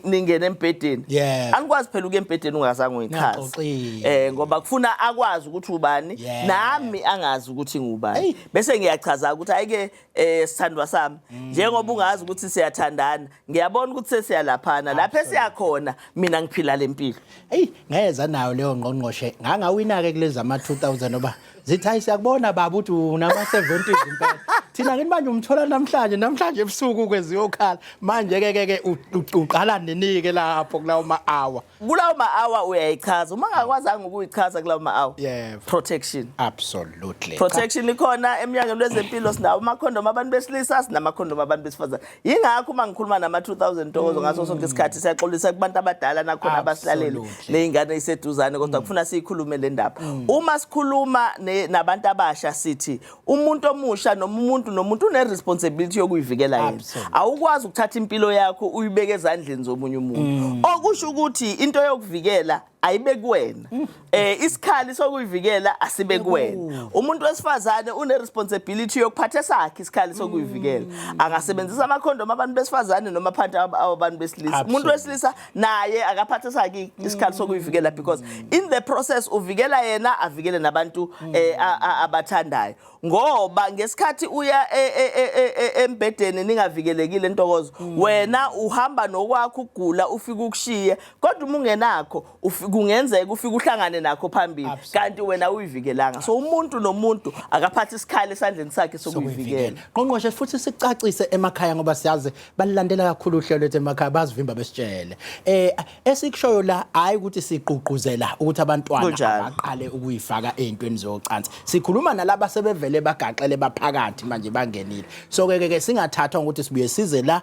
ningene embhedeni anikwazi phela ukuya embhedeni ungazange uyichaza eh ngoba kufuna akwazi ukuthi ubani nami angazi ukuthi ngubani bese ngiyachaza ukuthi ayike eh sithandwa sami hmm. njengoba ungazi ukuthi siyathandana ngiyabona ukuthi sesiyalaphana lapha esiyakhona mina ngiphila lempilo hey ngayeza nayo leyo ngqongqoshe ngangawina ke kulezi ama 2000 oba zithi hayi siyakubona baba ukuthi unama-70s impela thina ngini manje umthola namhlanje namhlanje ebusuku kweziyokhala manje ke ke ke uqala ninike lapho kulawo ma-hour kulawo ma-hour uyayichaza uma ngakwazanga ukuyichaza kulawo ma-hour yebo protection absolutely protection ikhona emnyangweni wezempilo sinawo amakhondom abantu besilisa sinamakhondom abantu besifazane yingakho uma ngikhuluma nama-2000 ntokozo ngaso sonke isikhathi siyaxolisa kubantu abadala nakhona abasilaleli Absolutely. ney'ngane iseduzane kodwa kufuna siyikhulume le ndaba uma sikhuluma ne- nabantu abasha sithi umuntu omusha noma umuntu nomuntu une-responsibility yokuyivikela yena Absolutely. awukwazi ukuthatha impilo yakho uyibeke ezandleni zomunye umuntu okusho ukuthi into yokuvikela ayibe kuwena mm. eh isikhali sokuyivikela asibe kuwena umuntu wesifazane une responsibility yokuphatha sakhe isikhali sokuyivikela mm. angasebenzisa ama condom abantu besifazane noma phanti abantu besilisa umuntu wesilisa naye akaphatha sakhe isikhali mm. sokuyivikela because in the process uvikela yena avikele nabantu eh, abathandayo ngoba ngesikhathi uya e, e, e, embedeni ningavikelekile intokozo wena uhamba nokwakho ugula ufika ukushiye kodwa uma ungenakho ufi- kungenzeka ufike uhlangane nakho phambili Absolutely. kanti wena uyivikelanga so umuntu nomuntu akaphathe isikhali esandleni sakhe sokuyivikela qongqoshe futhi sicacise emakhaya ngoba siyazi balilandela kakhulu uhlelo lwethu emakhaya bazivimba besitshele eh esikushoyo la hayi ukuthi sigqugquzela ukuthi abantwana Kunjalo. baqale ukuyifaka ezintweni zocansi sikhuluma nalaba sebevele bagaxele baphakathi manje bangenile so ke ke singathathwa ukuthi sibuye size la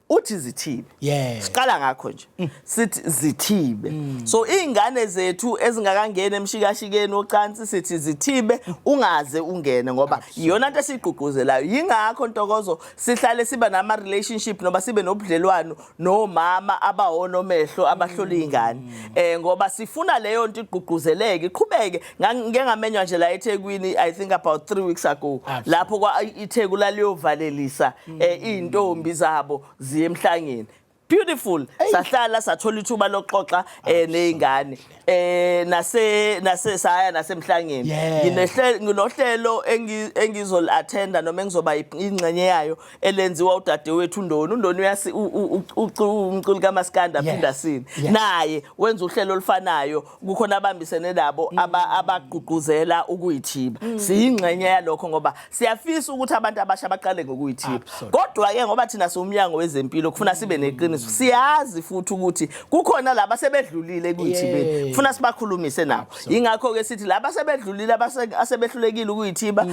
uthi zithibe yes. siqala ngakho nje mm. sithi zithibe mm. so izingane zethu ezingakangeni emshikashikeni ocansi sithi zithibe ungaze ungene ngoba iyona into esigqugquzelayo yingakho ntokozo sihlale siba nama relationship noba sibe nobudlelwano nomama abawona omehlo abahlola izingane mm. eh ngoba sifuna leyo nto igqugquzeleke iqhubeke ngike ngamenywa nje la ethekwini i think about three weeks ago lapho itheku laliyovalelisa um mm. eh, iy'ntombi zabo ziye emhlangeni beautiful sahlala sathola ithuba lokuxoxa eh nezingane eh nase nase saya nasemhlangeni nginehlelo nginohlelo engizol attenda noma engizoba ingxenye yayo elenziwa udadewethu uNdoni uNdoni uyasi umculi kaMaskanda aphinda sini naye wenza uhlelo olufanayo kukhona abambisene nabo mm. abagqugquzela ukuyithiba mm. siyingxenye yalokho ngoba siyafisa ukuthi abantu abasha baqale ngokuyithiba kodwa ke ngoba thina siwumnyango wezempilo kufuna sibe neqiniso mm. siyazi futhi ukuthi kukhona laba sebedlulile ekuyithibeni kufuna sibakhulumise nabo ingakho ke sithi laba sebedlulile asebehlulekile ukuyithiba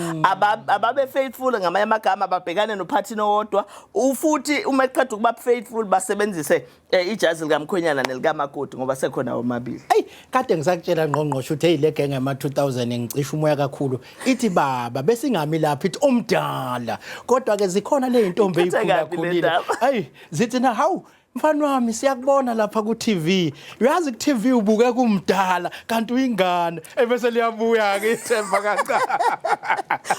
ababe faithful ngamanye amagama babhekane nophathini owodwa ufuthi uma eqeda ukuba faithful basebenzise Eh ijazi likamkhwenyana nelikamakoti ngoba sekhona omabili. Ey kade ngisakutshela ngqongqosho uthe ile genge yama 2000 ngicisha umoya kakhulu. Ithi baba besingami lapha ithi omdala. Kodwa ke zikhona le intombi Ikhethe eyikhula kabi le khulile. ndaba. Ey zithi na hawu mfana wami siyakubona lapha ku TV. Uyazi ku TV ubuke kumdala kanti uyingane. Ebese liyabuya ke ithemba kancane.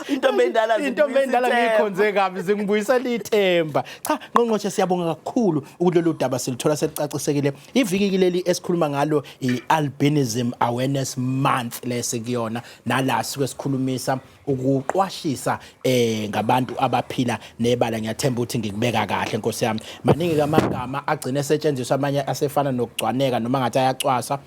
Intombi endala Intombi endala zibuya ithemba. ngiyikhonze kabi zingibuyisela ithemba. Cha ngqongqoshe siyabonga kakhulu ukuthi lolu daba silithola selicacisekile. Iviki kileli esikhuluma ngalo i-albinism awareness month lesikuyona nala sike sikhulumisa ukuqwashisa eh ngabantu abaphila nebala ngiyathemba ukuthi ngikubeka kahle nkosi yami. Maningi kamagama agcine esetshenziswa amanye asefana nokugcwaneka noma ngathi ayacwasa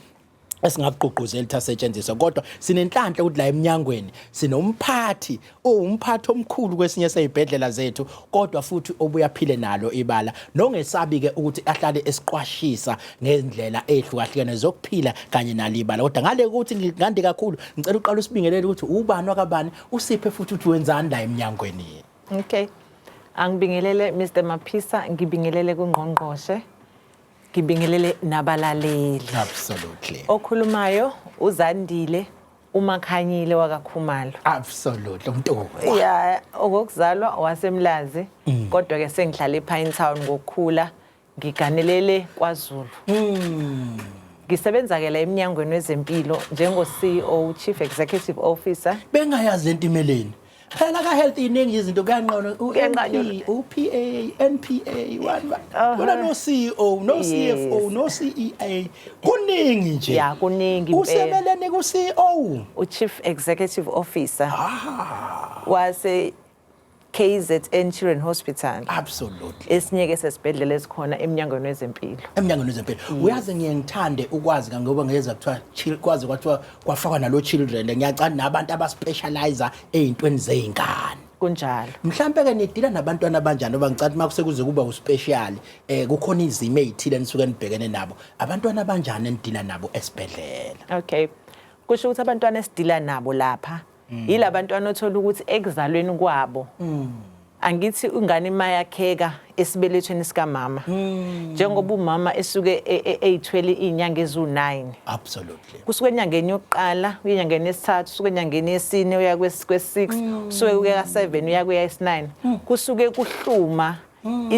esingakugqugquzeli ukuthi asetshenziswe kodwa sinenhlanhla ukuthi la emnyangweni sinomphathi owumphathi omkhulu kwesinye seyibhedlela zethu kodwa futhi obuyaphile nalo ibala nongesabi-ke ukuthi ahlale esiqwashisa ngezindlela ey'hlukahlukene zokuphila kanye nalo ibala kodwa ngale ukuthi ngande kakhulu ngicela uqala usibingelele ukuthi ubani wakabani usiphe futhi ukuthi wenzani la emnyangweni okay angibingelele mr maphisa ngibingelele kungqongqoshe Ngibingelele nabalaleli. Absolutely. Okhulumayo uZandile uMakhanyile wakaKhumalo. Absolutely umntoko. Yeah, okokuzalwa waseMlazi mm. kodwa ke sengihlale ePine Town ngokukhula ngiganelele kwaZulu. Mm. Ngisebenza ke la eminyangweni wezempilo njengo CEO Chief Executive Officer. Bengayazi entimeleni. phela ka health iningi izinto kuyanqona uPA NPA one uh-huh. wena no CEO no CFO no CEA kuningi nje ya kuningi usebeleni ku CEO u Chief Executive Officer ah. wase KZN Children Hospital absolutely esinye ke sesibhedlela esikhona emnyangweni wezempilo emnyangweni wezempilo uyazi ngiye ngithande ukwazi ngoba ngeza kuthiwa kwazi kwathiwa kwafakwa nalo children ngiyacanda nabantu abaspecializer ey'ntweni zey'ngane kunjalo mhlampe ke nidila nabantwana abanjani ngoba ngicela uma kusekuze kuba uspecial eh kukhona izimo ezithile nisuke nibhekene nabo abantwana abanjani enidila nabo esibhedlela okay kusho ukuthi abantwana esidila nabo lapha mm. yila bantwana othola ukuthi ekuzalweni kwabo mm. angithi ingane imayakheka esibelethweni sikamama mm. njengoba umama esuke e, e, eyithwele izinyanga ezu9 absolutely kusuke enyangeni yokuqala uyenyangeni yesithathu usuke enyangeni yesine uya kwes6 mm. usuke uya ka7 uya kuya is9 mm. kusuke kuhluma mm.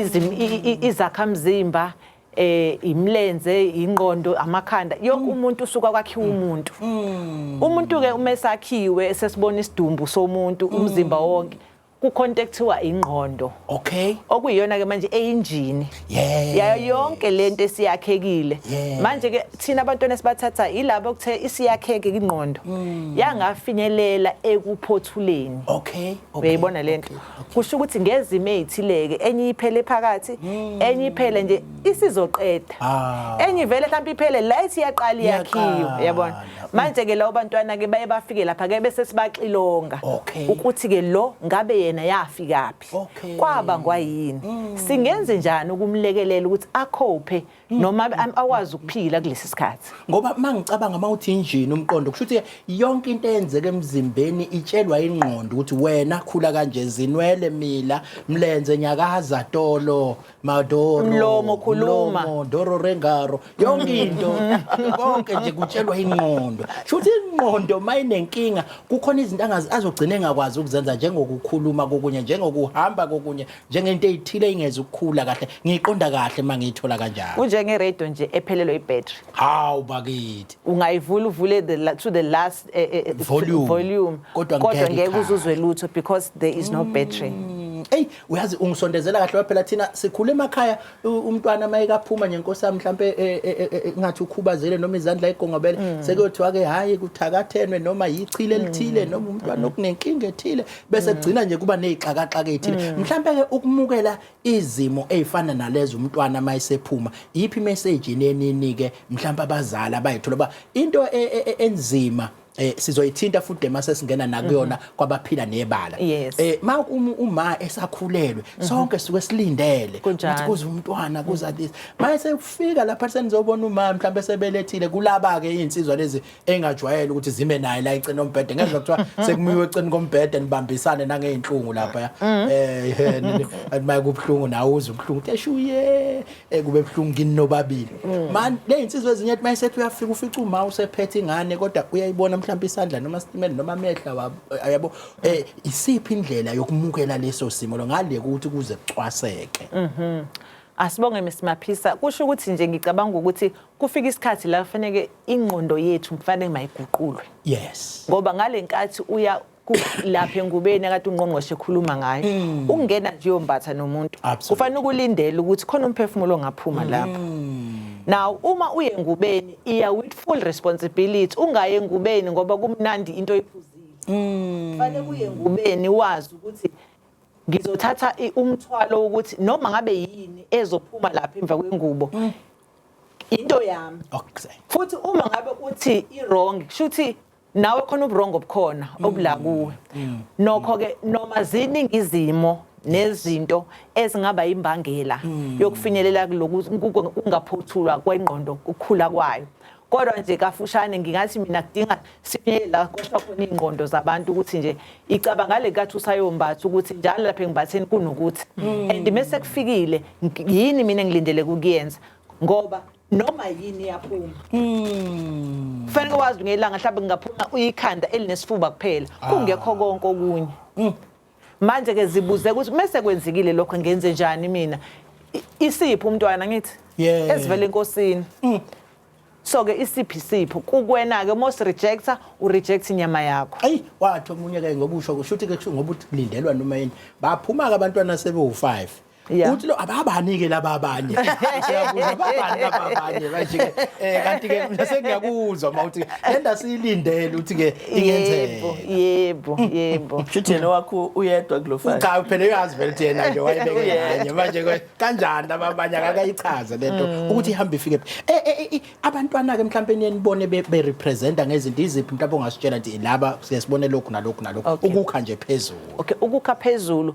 izakhamzimba eh imlenze ingqondo amakhanda yonke mm. umuntu usuka kwakhiwa mm. umuntu mm. umuntu ke uma esakhiwe sesibona isidumbu somuntu umzimba wonke kukhonto ekuthiwa ingqondo okay okuyiyona ke manje eyinjini yayo yonke lento esiyakhekile manje ke thina abantwana sibathatha yilabo okuthe isiyakheke ingqondo yangafinyelela ekuphothuleni okay uyayibona lento kusho ukuthi ngezimo ezithileke enye iphele phakathi hmm. enye iphele nje isizoqeda ah. enye ivele mhlawumbe iphele la ithi yaqala iyakhiwa yabona manje ke lawo bantwana ke baye bafike lapha ke bese sibaxilonga ukuthi ke lo ngabe yena yafikaphi kwaba ngwayini hmm. singenze njani ukumlekelela ukuthi akhophe noma am- akwazi ukuphila kulesi sikhathi ngoba uma ngicabanga uma uthi injini umqondo kusho ukuthi yonke into eyenzeka emzimbeni itshelwa ingqondo ukuthi wena khula kanje zinwele mila mlenze nyakaza tolo madoro Mlomo, khuluma. mlomo, doro rengaro yonke into konke nje kutshelwa ingqondo kusho ukuthi ingqondo uma inenkinga kukhona izinto angazi- azogcina engakwazi ukuzenza njengokukhuluma kokunye njengokuhamba kokunye njengento eyithile ingeze ukukhula kahle ngiyiqonda kahle uma ngiyithola kanjalo kunjenge radio nje ephelelwe ibattery hawu bakithi ungayivula uvule the la- to the last eh, eh, eh, Volume. volume Kodwa kodwa ngeke ngeke ikhale. uzuzwe lutho because there is no battery eyi uyazi ungisondezela kahle waphela thina sikhule emakhaya umntwana uma ekaphuma nje nkosi yami mhlawumpe e, e, e, ngathi ukhubazele noma izandla egongobele mm. sekuyothiwa ke hhayi kuthakathenwe noma yichile elithile mm. noma umntwana mm. okunenkinga ethile bese kugcina nje kuba ney'xakaxaka ey'thile mhlawumpe-ke ukumukela izimo ey'fana nalezo umntwana uma esephuma yiphi imeseji nenini-ke mhlawumpe abazali abayithola uba into enzima eh sizoyithinta futhi mase singena nakuyona mhm. kwabaphila nebala eh ma uma esakhulelwe mhm. sonke suke silindele ukuthi kuze umntwana kuza mhm. this mase ufika lapha senizobona uma mhlawumbe sebelethile kulaba ke insizwa lezi engajwayele ukuthi zime naye la icena ombhede ngezwe kuthiwa sekumiwe eceni kombhede nibambisane nangezinhlungu lapha eh mayikubhlungu nawe uze ubhlungu eshuye Eh kube buhlungu kini nobabili. Mm. Man le insizwe ezinye ethi mayisethi uyafika ufica uma usephethe ingane kodwa uyayibona mhlawumbe isandla noma stimela noma amehla wabo eh, yabo eh isiphi indlela yokumukela leso simo lo ngale ukuthi kuze kucwaseke. Mhm. Asibonge Mr Maphisa kusho ukuthi nje ngicabanga ukuthi kufika isikhathi la kufanele ingqondo yethu mfanele mayiguqulwe. Yes. Ngoba ngalenkathi uya lapha engubeni akade ungqongqoshe ekhuluma ngayo mm. ukungena nje uyombatha nomuntu kufanele ukulindele ukuthi khona umphefumulo ongaphuma mm. lapho now uma uye engubeni iya with full responsibility ungaye engubeni ngoba kumnandi into oyiphuzile mm. kufanele kuye engubeni wazi ukuthi ngizothatha umthwalo wokuthi noma ngabe yini ezophuma lapha emva kwengubo into yami futhi uma ngabe uthi i wrong kushuthi nawe khona uburongo obukhona mm. obula kuwe mm. nokho ke noma ziningi izimo nezinto ezingaba imbangela mm. yokufinyelela kungaphothulwa kwengqondo ukukhula kwayo kodwa nje kafushane ngingathi mina kudinga sifinyelela kodwa khona ingqondo zabantu ukuthi nje icabanga le kathi usayombatha ukuthi njalo lapha engimbatheni kunokuthi and mese kufikile yini mina ngilindele kukuyenza ngoba noma yini yaphuma mm. fanele wazi ngelanga mhlawumbe kungaphuma uyikhanda elinesifuba kuphela ah. kungekho konke okunye mm. manje ke zibuze ukuthi mese kwenzekile lokho ngenze njani mina isiphi umntwana ngithi yeah. ezivela enkosini mm. so ke isiphi sipho kukwena ke most rejector u reject inyama yakho ayi wathi omunye ke ngokusho kushuthi ke kusho ngoba ulindelwa noma yini baphuma ke abantwana sebe u5 Yeah. uthi lo ababanike laba abanye siyabuza ababani laba abanye manje ke eh kanti ke mina sengiyakuzwa mawuthi lenda siyilindele uthi ke yebo ingenzeka yebo yebo Shuthi yena wakho uyedwa kulo file. cha phela uyazi vele ukuthi yena nje wayebeke Yeah. kanye manje ke kanjani laba abanye akakayichaze lento ukuthi ihamba ifike phi. eh eh, eh abantwana ke mhlawumbe niyenibone be be representa ngezinto iziphi mhlawumbe ongasitshela ukuthi laba siyasibone lokhu nalokhu nalokhu Okay. ukukha nje phezulu okay ukukha phezulu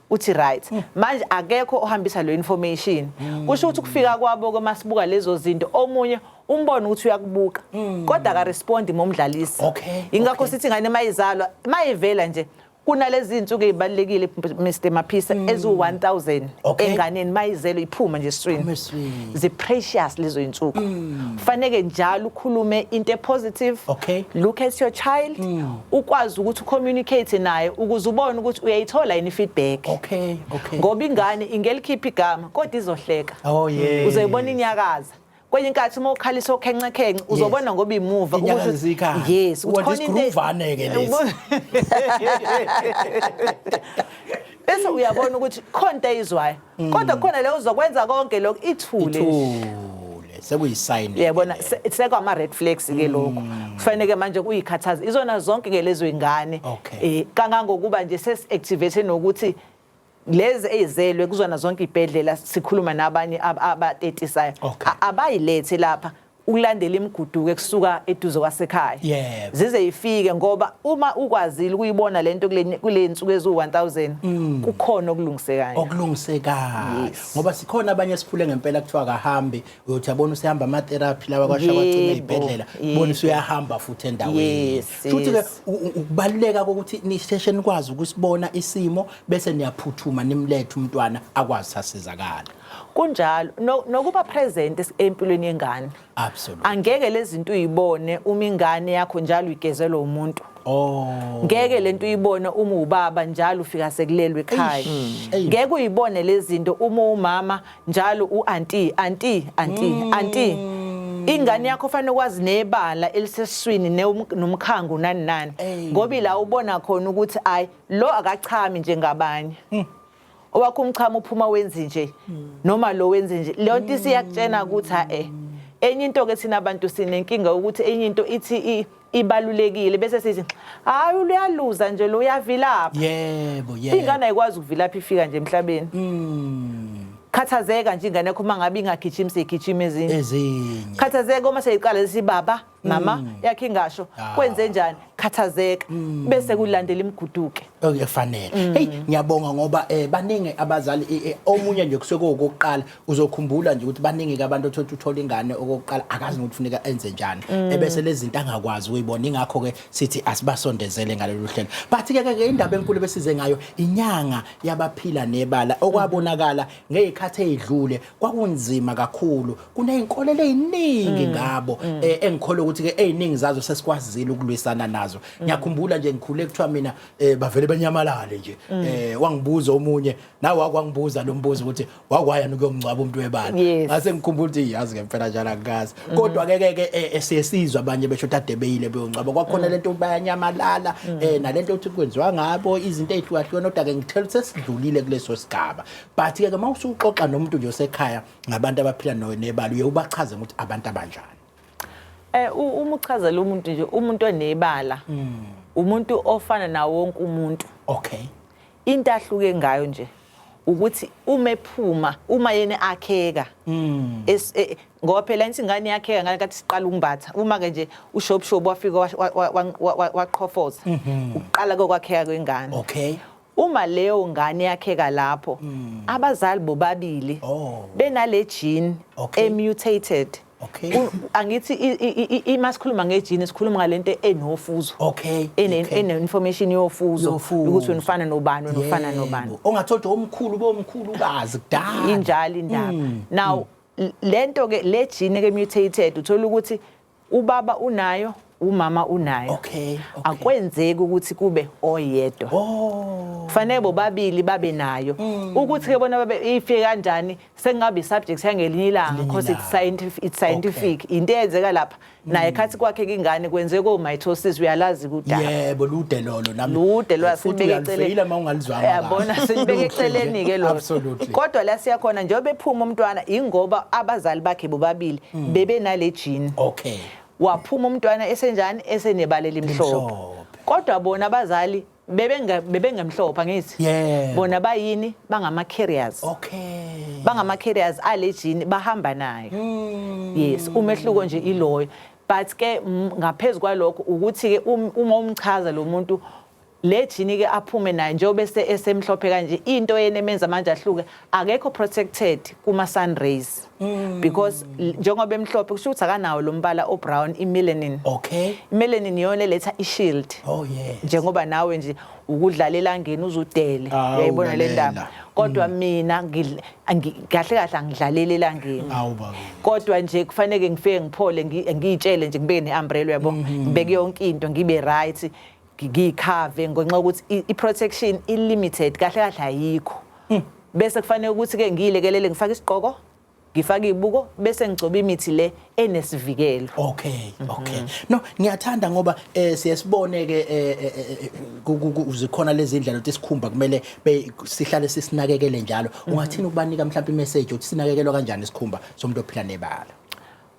uthi right hmm. manje akekho ohambisa lo information hmm. kusho ukuthi kufika kwabo ke masibuka lezo zinto omunye umbona ukuthi uyakubuka hmm. kodwa ka respond momdlalisi okay ingakho sithi ngane mayizalwa mayivela nje kunalezi insuku ezibalekile Mr Maphisa ezu 1000 enganeni mayizelo iphuma nje stream zi precious lezo insuku faneke njalo ukhulume into e positive look at your child ukwazi ukuthi ucommunicate naye ukuze ubone ukuthi uyayithola yini feedback okay okay ngoba ingane ingelikhipha igama kodwa izohleka oh yeah uzoyibona inyakaza kwenye inkathi uma ukhalisa okhenxa khenxa uzobona ngoba imuva ukuthi yes ukuthi khona into uvane ke lesi bese uyabona ukuthi khona into ayizwayo Mm. kodwa khona le uzokwenza konke lokho ithule ithule sekuyisayini yabona sekwama red flags ke mm. lokho kufanele ke manje kuyikhathaza izona zonke ke lezo ingane eh kangangokuba nje ses activate nokuthi lezi eyizelwe kuzona zonke ibhedlela sikhuluma nabanye abatetisayo abayilethe lapha ukulandela imiguduko ekusuka eduze kwasekhaya Yebo. zize ifike ngoba uma ukwazile ukuyibona lento kule kule nsuku eziwu-1000 Mm. kukhona okulungisekayo okulungisekayo Yes. ngoba sikhona abanye esiphule ngempela kuthiwa akahambi uyothi abona usehamba ama-therapy lawa kwasha kwacima Yebo, ey'bhedlela yebo. bona usuyahamba futhi endaweni Yes, futhi-ke yes. u- u- ukubaluleka kokuthi nisheshe nikwazi ukusibona isimo bese niyaphuthuma nimlethe umntwana akwazi sasizakala kunjalo no- nokuba present es- empilweni yengane Absolutely. angeke lezinto uyibone uma ingane yakho njalo igezelwa umuntu Oh. ngeke lento uyibone uma ubaba njalo ufika sekulelwe ekhaya Eish. ngeke uyibone lezinto uma umama njalo uanti anti anti anti ingane yakho fanele kwazi nebala eliseswini neum- nomkhango nani nani Ey. ngoba ila ubona khona ukuthi ay lo akachami njengabanye owakho umchamo uphuma wenzi nje noma lo wenzi nje leyo nto isiyakutshena ukuthi ha eh enye into ke thina abantu sinenkinga ukuthi enye into ithi ibalulekile bese sithi hayi uyaluza nje lo uyavilapha yebo yebo ingane ayikwazi ukuvilapha ifika nje emhlabeni mm. khathazeka nje ingane yakho uma ngabe ingagijimi seyigijima ezinye ezinye khathazeka uma seyiqala lesi baba mama mm. yakhe ingasho ah. kwenze njani khathazeka mm. bese kulandela imiguduke okuyafanele mm. hey ngiyabonga ngoba eh baningi abazali eh, eh, omunye nje kusuke kokuqala uzokhumbula nje ukuthi baningi abantu othola uthola ingane okokuqala akazi ukuthi funeka enze njani ebese lezi zinto angakwazi uyibona ingakho ke sithi asibasondezele ngalolu hlelo but ke ke indaba enkulu besize ngayo inyanga yabaphila nebala okwabonakala ngezikhathi ezidlule kwakunzima kakhulu kuneyinkolelo eziningi mm. ngabo mm. Eh, engikholwa ukuthi ke eziningi zazo sesikwazile ukulwisana nazo mm. ngiyakhumbula nje ngikhule kuthiwa mina eh, bavele benyamalale nje eh, wangibuza omunye nawe wakwangibuza lo mbuzo ukuthi wakwaya nokuyomngcwaba umuntu webala ngase ngikhumbula ukuthi yazi ngempela njalo angikazi mm-hmm. kodwa ke ke eh, siyesizwa abanye besho tadebeyile beyongcwaba kwakhona lento bayanyamalala nalento ukuthi kwenziwa ngabo izinto ezihlukahlukene kodwa ke ngithela sesidlulile kuleso sigaba but ke uma usuxoxa nomuntu nje osekhaya ngabantu abaphila nayo nebala uye ubachaze ukuthi abantu abanjani eh uma uchazela umuntu nje umuntu onebala mm. umuntu ofana nawo wonke umuntu okay into ahluke ngayo nje ukuthi uma ephuma uma yena akheka mm. e, ngoba phela insi ingane yakheka ngale kathi siqala ukumbatha uma ke nje ushopshop wafika waqhofoza mm-hmm. uqala kokwakheka kwengane okay Uma leyo ngane yakheka lapho hmm. abazali bobabili oh. benale gene emutated angithi ima sikhuluma ngejini sikhuluma ngalento enofuzo okay ene information yofuzo ukuthi unifana nobani unifana nobani ongathola omkhulu bomkhulu kazi kudala injalo indaba hmm. now hmm. lento ke lejini ke mutated uthola ukuthi ubaba unayo umama unayo okay, okay. akwenzeki ukuthi kube oyedwa oh. fanele bobabili babe nayo mm. ukuthi ke bona babe ifike kanjani sengabe isubject yangelinye ilanga because it's scientific it's scientific okay. into eyenzeka lapha mm. naye khathi kwakhe kingane kwenze ko mitosis uyalazi kudala yebo lude lolo nami lude lwa sibeke eceleni uma ungalizwanga yabona sibeke eceleni ke lo kodwa la siyakhona njengoba ephuma umntwana ingoba abazali bakhe bobabili mm. bebe nale jini okay waphuma umntwana esenjani esenebala elimhlophe kodwa bona abazali bebengemhlophe angithi yeah. bona bayini bangama-carriers okay. bangama-carriers ale jini bahamba nayo mm. yes umehluko nje iloyo but ke ngaphezu kwalokho ukuthi-ke um, uma umchaza lo muntu Le jini ke aphume nayo njengoba ese esemhlophe kanje into yena emenza manje ahluke akekho protected kuma sun rays mm. because njengoba emhlophe kusho ukuthi akanawo lo mbala o brown i melanin okay i melanin yona letha i shield oh yes njengoba nawe nje ukudlala elangeni uzudele ah, uyayibona le ndaba kodwa mm. mina kahle kahle angidlalele elangeni kodwa nje kufanele ngifike ngiphole ngiyitshele nje ngibeke ne umbrella yabo mm-hmm. ngibeke yonke into ngibe right ngiyikhave ngenxa yokuthi i- i-protection i-limited kahle kahle ayikho bese kufanele ukuthi-ke ngiyilekelele ngifake isigqoko ngifake iy'buko bese ngigcoba imithi le enesivikelo Okay, okay. No, ngiyathanda ngoba eh siyasibone ke eh, eh, eh, eh, ku- ku- ku- zikhona lezi indlela ukuthi sikhumba kumele be- sihlale sisinakekele njalo. Ungathini ukubanika mhlawumbe imessage ukuthi sinakekelwa kanjani isikhumba somuntu ophila nebala.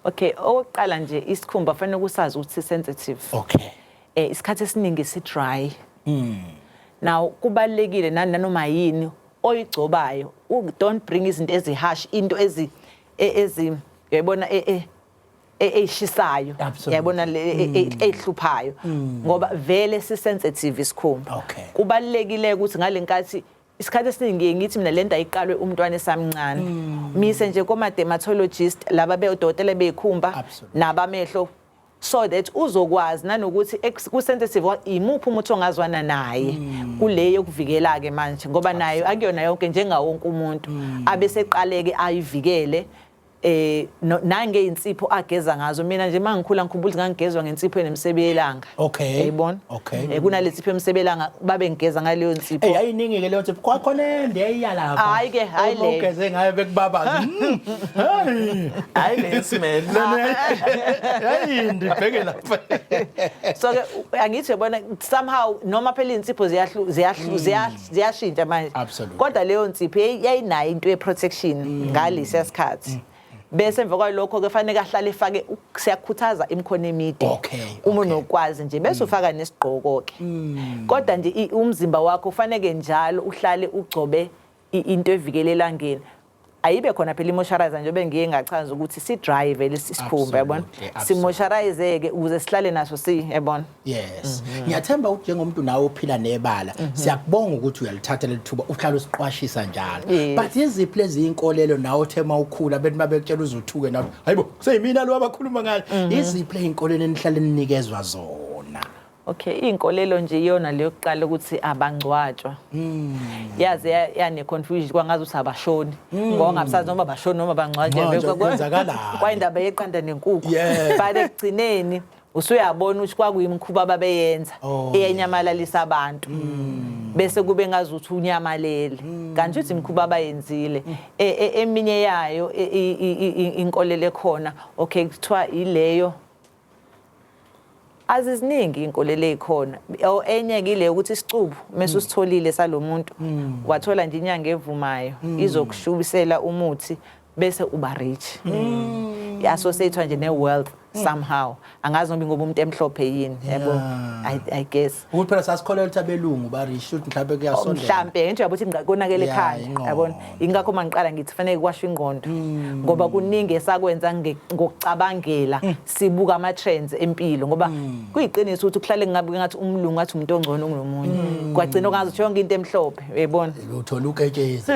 okay okokuqala nje isikhumba fanele kusazi ukuthi si-sensitive Okay. eh isikhathi esiningi si dry mm. now kubalekile nani nanoma yini oyigcobayo don't bring izinto ezihash into ezi e, ezi yayibona e, e, eyishisayo yayibona eyihluphayo mm. mm. ngoba vele si sensitive isikhumba kubalekile ukuthi ngalenkathi isikhathi esiningi ngiye ngithi mina lento ayiqalwe umntwana esamncane mm. mise nje koma dermatologist laba beodokotela beyikhumba nabamehlo so that uzokwazi nanokuthi ku sensitive imuphi umuthi ongazwana naye mm. kule yokuvikela ke manje ngoba nayo akuyona yonke njengawonke umuntu mm. abeseqaleke ayivikele eh no- nange insipho ageza ngazo mina nje mangikhula ngikhumbula ukuthi ngangigezwa ngensipho enemsebe yelanga Okay. yayibona Okay. eh kunalensipho emsebe yelanga babe ngigeza ngaleyo nsipho Ey ayiningi ke leyo ntsipho kwakhona ende eyalapha. Hhayi ke, hhayi le. Ugeze ngayo bekubabaza. Mm, Hey. Hayi le smell. Hey ndibheke lapha. so ke angithi yabona somehow noma phela insipho ziyahlu ziyahlu ziyahlu ziyashintsha manje Absolutely. kodwa leyo nsipho yayi- yayinayo into ye-protection Mm. ngalesiya sikhathi bese emva kwalokho ke fanele ahlale efake u- siyakhuthaza imikhono emide Okay, Mm. uma unokwazi nje bese ufaka nesigqoko ke kodwa nje i- umzimba wakho ufaneke njalo uhlale ugcobe i- into evikela elangeni ayibe khona phela imosharayiza njengoba ngiye ngachaza ukuthi si drive lesi sikhumba yabona simosharayizeke ukuze sihlale naso si yabona yes mhm. ngiyathemba ukuthi njengomuntu nawe ophila nebala mhm. siyakubonga ukuthi uyalithatha lelithuba uhlala usiqwashisa njalo but yiziphi lezi inkolelo nawe othe mawukhula bethi babekutshela uzothuke nawe hayibo kuseyimina lo abakhuluma ngayo mhm. yiziphi lezi inkolelo enihlale ninikezwa zona Okay, iy'nkolelo nje iyona le yokuqala ukuthi abangcwatshwa. Yaze ya- yane-confusion kwangazi ukuthi abashoni. Ngoba ngabusazi noma bashoni noma bangcwatshelwe. Manje Kwa- kwa- kwenzakalani? Kwayindaba yeqanda nenkukhu. Yeah. But ekugcineni usuyabona ukuthi kwakuyimikhuba ababeyenza Oh, eyenyamalalisa abantu. Bese kube ngazi ukuthi unyamalele. Kanti uthi imikhuba abayenzile. E- e- Eminye yayo i- i- i- i- inkolelo ekhona okay kuthiwa ileyo aziziningi inkolelo ezikhona or enye kile ukuthi isicubu mase usitholile salomuntu mm. wathola nje inyanga evumayo mm. izokushubisela umuthi bese uba rich mm. i-associatwa nje ne-wealth somehow angazi noba ngoba umuntu emhlophe yini yabo i guess ukuthi phela sasikholelwa ukuthi abelungu barish ukuthi mhlawumbe kuyasondela mhlampe ngento yabuthi konakele Yeah, ekhaya ingqondo. yabona ingakho uma ngiqala ngithi fanele kwashwa ingqondo Hmm. ngoba kuningi esakwenza nge- ngokucabangela Hmm. sibuka ama-trends empilo ngoba kuyiqiniso ukuthi kuhlale ngabe ngathi umlungu athi umuntu ongcono kunomunye Hmm. kwagcina ungazi ukuthi yonke into emhlophe uyayibona uthola uketshezi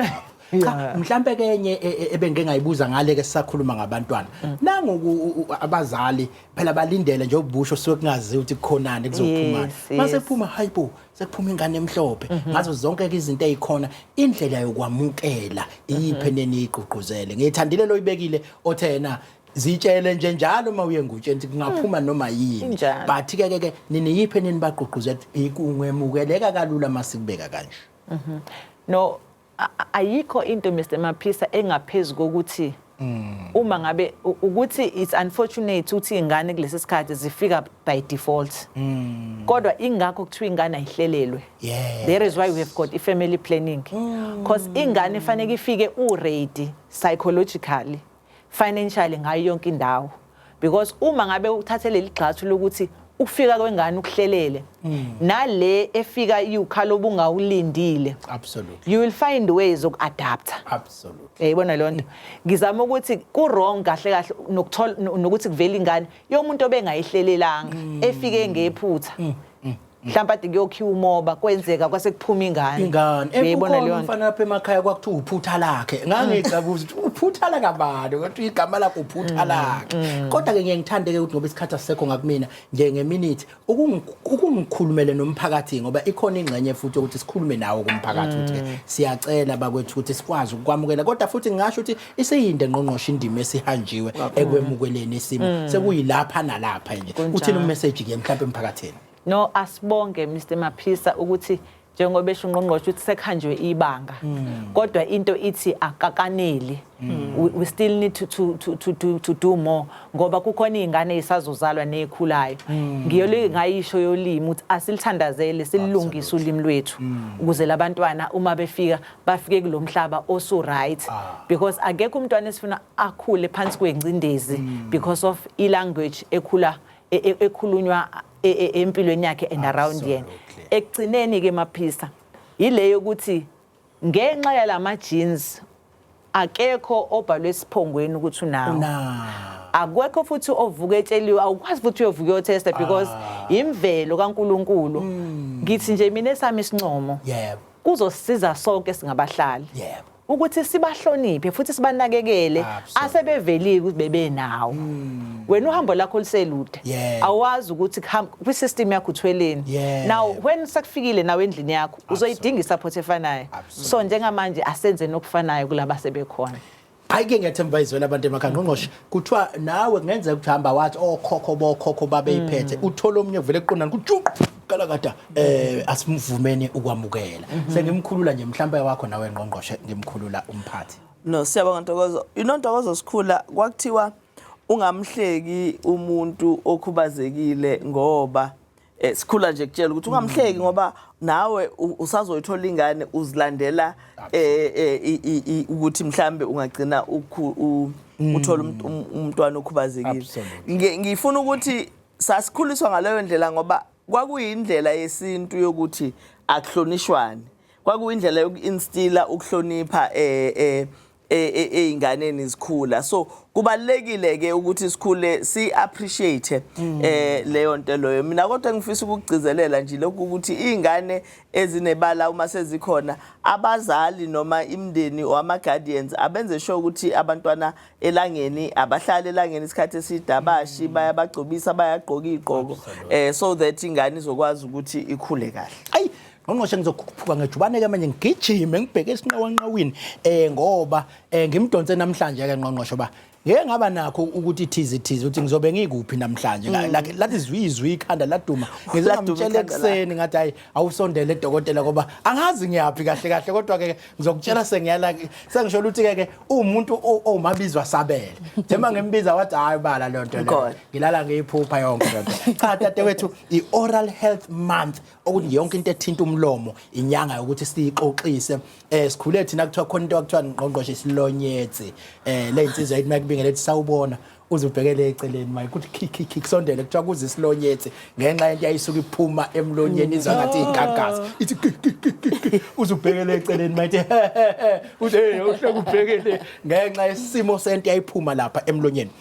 cha Yeah. mhlambe ke enye e- e- ebengike ngayibuza ngale ke sisakhuluma ngabantwana Mm. nangu ku- u- abazali phela balindele nje ubusho suke kungazi ukuthi kukhonani kuzophumana Yes, Mm-hmm. mase yes. kuphuma hayibo sekuphuma ingane emhlophe ngazo zonke ke izinto ezikhona indlela yokwamukela Mm-hmm. iyiphe neniyigqugquzele ngiyithandile loyibekile othe yena zitshele nje njalo uma uye ngutsheni ukuthi kungaphuma noma yini Mm. Injalo. but ke ke ke niniyiphe nini bagqugquzela ukuthi ikungemukeleka kalula masikubeka kanje no ayikho into Mr Maphisa engaphezulu kokuthi Mm. uma ngabe ukuthi it's unfortunate ukuthi ingane kulesi sikhathi zifika by default mm. kodwa ingakho kuthiwa ingane ayihlelelwe yes. there is why we have got i-family planning because mm. ingane ifanele ifike uready psychologically financially ngayo yonke indawo because uma ngabe uthathe leli gxathu lokuthi ukufika kwengane ukuhlelele hmm. nale efika iwukhala obungawulindile absolutely you will find ways of adapter absolutely yayibona leyo nto ngizama ukuthi ku wrong kahle kahle nokuthola nokuthi kuvela ingane yomuntu obengayihlelelanga hmm. efike ngephutha hmm. mhlawumbe ade kuyokhiwa umoba kwenzeka kwase kuphuma ingane ingane uyayibona leyo mfana lapha emakhaya kwakuthiwa uphutha lakhe ngangixabuza ukuthi uphutha la kabani kodwa igama lakho uphutha mm, lakhe mm. kodwa ke ngiye ngithande ke ukuthi ngoba isikhathi asisekho ngakumina nje ngeminute ukungikhulumele nomphakathi ngoba ikhona ingxenye futhi ukuthi sikhulume nawo kumphakathi ukuthi mm. siyacela bakwethu ukuthi sikwazi ukwamukela kodwa futhi ngingasho ukuthi iseyinde ngqongqoshe indima esihanjiwe ekwemukeleni isimo sekuyilapha nalapha nje uthini umessage ke mhlawumbe emphakathini No asibonge Mr Maphisa ukuthi njengoba esho ungqongqoshe ukuthi sekhanjwe ibanga hmm. kodwa into ithi akakaneli hmm. we, we still need to, to, to, to, do, to do more ngoba kukhona iy'ngane ey'sazozalwa ney'khulayo hmm. ngiyolike ngayisho yolimi ukuthi asilithandazele sililungise ulimi lwethu ukuze labantwana uma befika bafike kulo mhlaba osu-right ah. because akekho umntwana esifuna akhule phansi kwengcindezi because of i-language ekhula e, e, ekhulunywa e, empilweni yakhe and around yena ekugcineni ke maphisa yile yokuthi ngenxa yalama jeans akekho obhalwe esiphongweni ukuthi unawo akwekho futhi ovuka etsheliwe awukwazi futhi uyovuka uyotesta because ah. imvelo kaNkuluNkulu hmm. ngithi nje mina esami isincomo yebo kuzosiza sonke singabahlali yebo ukuthi sibahloniphe futhi sibanakekele asebevelike ukuthi bebenawo hmm. wena uhambo lakho liselude awazi ukuthi kwi system yakho uthweleni now when sekufikile nawe endlini yakho uzoyidinga support efanayo so njengamanje asenze nokufanayo kulaba sebekhona ayike ngiyathemba izwela abantu emakhaya ngqongqoshe kuthiwa nawe kungenzeka ukuthi hamba wathi okhokho oh, bokhokho babeyiphethe mm. uthole omunye vele eqondana kujuqu kalakada eh asimvumeni ukwamukela mhm. sengimkhulula nje mhlawumbe wakho nawe ngqongqoshe ngimkhulula umphathi no siyabonga ntokozo you know ntokozo sikhula kwakuthiwa ungamhleki umuntu okhubazekile ngoba Eh, sikhula nje kutshela ukuthi ungamhleki mm. ngoba nawe usazoyithola ingane uzilandela eh, eh, ukuthi mhlambe ungagcina mm. uthola um, um, umntwana okhubazekile ngifuna ukuthi sasikhuliswa ngaleyo ndlela ngoba kwakuyindlela yesintu yokuthi akuhlonishwane kwakuyindlela yoku-instila ukuhlonipha um ezinganeni izikhula so kubalekile ke ukuthi sikhule si appreciate mm. eh leyo nto loyo mina kodwa ngifisa ukugcizelela nje lokhu ukuthi izingane ezinebala uma sezikhona abazali noma imndeni wama guardians abenze sure ukuthi abantwana elangeni abahlale elangeni isikhathi esidabashi mm. bayabagcobisa bayagqoka igqoko eh so that ingane izokwazi ukuthi ikhule kahle ayi ngqongqoshe ngizokhuphuka ngejubane-ke manje ngigijime ngibheke esinqawanqawini um ngoba um ngimdonse namhlanje-ke ngqongqoshe uba ngeke ngaba nakho ukuthi thize thize ukuthi ngizobe ngikuphi namhlanje mm. like lathi zwizwi ikhanda laduma ngize ngamtshela ekuseni ngathi hayi awusondele edokotela ngoba angazi ngiyaphi kahle kahle kodwa ke ngizokutshela sengiyala sengisho ukuthi ke umuntu owumabizwa sabele njengoba ngimbiza wathi hayi bala le nto le ngilala ngiyiphupha yonke le nto cha dadewethu i-oral health month okuthi yonke into ethinta umlomo inyanga yokuthi siyixoxise eh sikhule thina kuthiwa khona into akuthiwa ngqongqoshe isilonyetsi eh le insizwa ethi makubingele ethi sawubona uze ubhekele eceleni maye kuthi khikhikhi kusondele kuthiwa kuze isilonyetsi ngenxa yento yayisuke iphuma emlonyeni izwa ngathi igagaza ithi khikhikhi uze ubhekele eceleni maye ithi uze uhleke ubhekele ngenxa yesimo sento yayiphuma lapha emlonyeni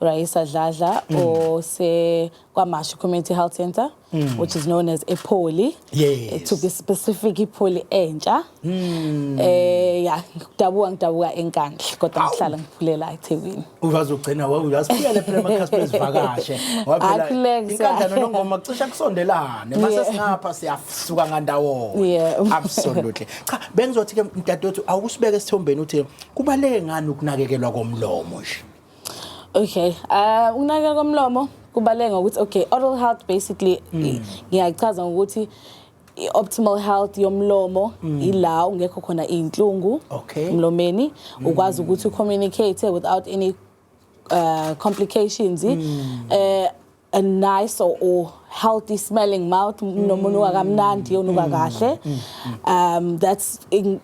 Raisa Dladla mm. ose kwaMashu Community Health Center mm. which is known as ePoli yes. it took a specific iPoli entsha mm. eh ya ngidabuka ngidabuka enkandla kodwa ngihlala ngiphulela eThekwini uvazi ugcina wawu uyasiphuyela phela amakhasiphe ezivakashe waphela inkandla nongoma cisha kusondelane mase singapha siyasuka ngandawo yeah. absolutely cha bengizothi ke mdadewethu awusibeke esithombeni uthi kubaleke ngani ukunakekelwa komlomo nje Okay. Uh ukunakekela komlomo kubaleka ngokuthi okay, oral health basically mm. ngiyachaza ngokuthi i-optimal health yomlomo mm. ila ungekho khona izinhlungu okay. emlomeni mm. ukwazi ukuthi ucommunicate without any uh, complications mm. uh, a nice or, or healthy smelling mouth nomuntu wakamnandi onuka kahle um that's in,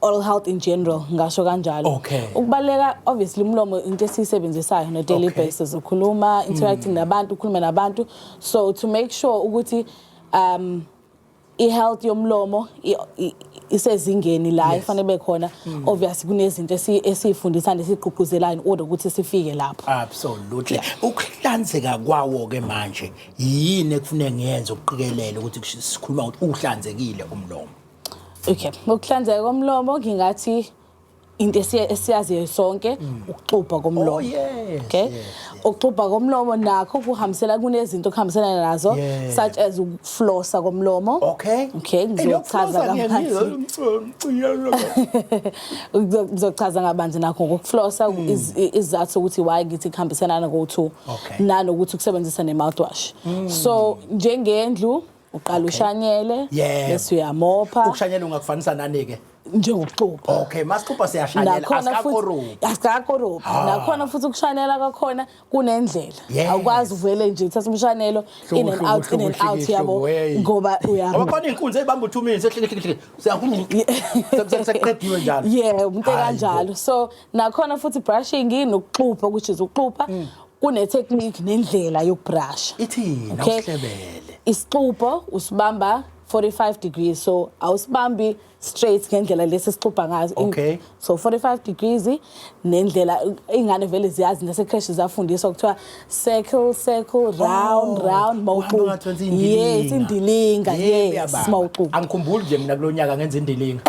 oral health in general ngasho kanjalo Okay. ukubaleka obviously umlomo into esiyisebenzisayo no daily Okay. basis ukhuluma interacting nabantu ukhuluma nabantu so to make sure ukuthi um i-health yomlomo isezingeni la ifanele be khona hmm. obviously kunezinto esiyifundisa nesigqugquzelayo in order ukuthi sifike lapho absolutely ukuhlanzeka kwawo ke manje yini ekufuneka ngiyenze ukuqikelela ukuthi sikhuluma ukuthi uhlanzekile umlomo okay ukuhlanzeka komlomo ngingathi into esiyaziyo sonke mm. ukuxubha komlomo oh, okay ukuxubha komlomo nakho kuhambisela kunezinto okuhambiselana nazo such as ukuflosa komlomo okay okay ngizochaza kabanzi ngizochaza kabanzi nakho ngokuflosa mm. izathu ukuthi why ngithi kuhambiselana go-to nanokuthi ukusebenzisa ne-mouthwash mm. so njengendlu uqala ushanyele Yebo. bese uyamopha ukushanyela ungakufanisa nani-ke njengokuxupha okay masixupha siyashanyela nakhona futhi asikakoruphi asikakoruphi Ah. nakhona futhi ukushanela kwakhona kunendlela Yes. awukwazi uvele nje uthatha umshanelo Hlobo, in and hlobo, out in hlobo, and out hlobo, yabo hlobo, hey. ngoba uya ngoba khona iy'nkunzi ey'bamba u-two minutes ehlikihliki sekuqediwe njalo yeah umuntu Hayi bo. kanjalo so nakhona futhi brushing nokuxupha which is ukuxupha Kune-technique nendlela yokubrasha. Ithini Okay. awuhlebele? Isixubho usibamba 45 degrees so awusibambi straight ngendlela lesi sixubha ngazo. In- Okay. So 45 degrees nendlela ingane vele ziyazi nasecresh zafundiswa kuthiwa circle circle round Oh, round uhambe ungathi wenza mawuxuba. indilinga. Yes indilinga Yebo, yes uyababa. mawuxuba. Angikhumbuli nje mina kulonyaka ngenza indilinga.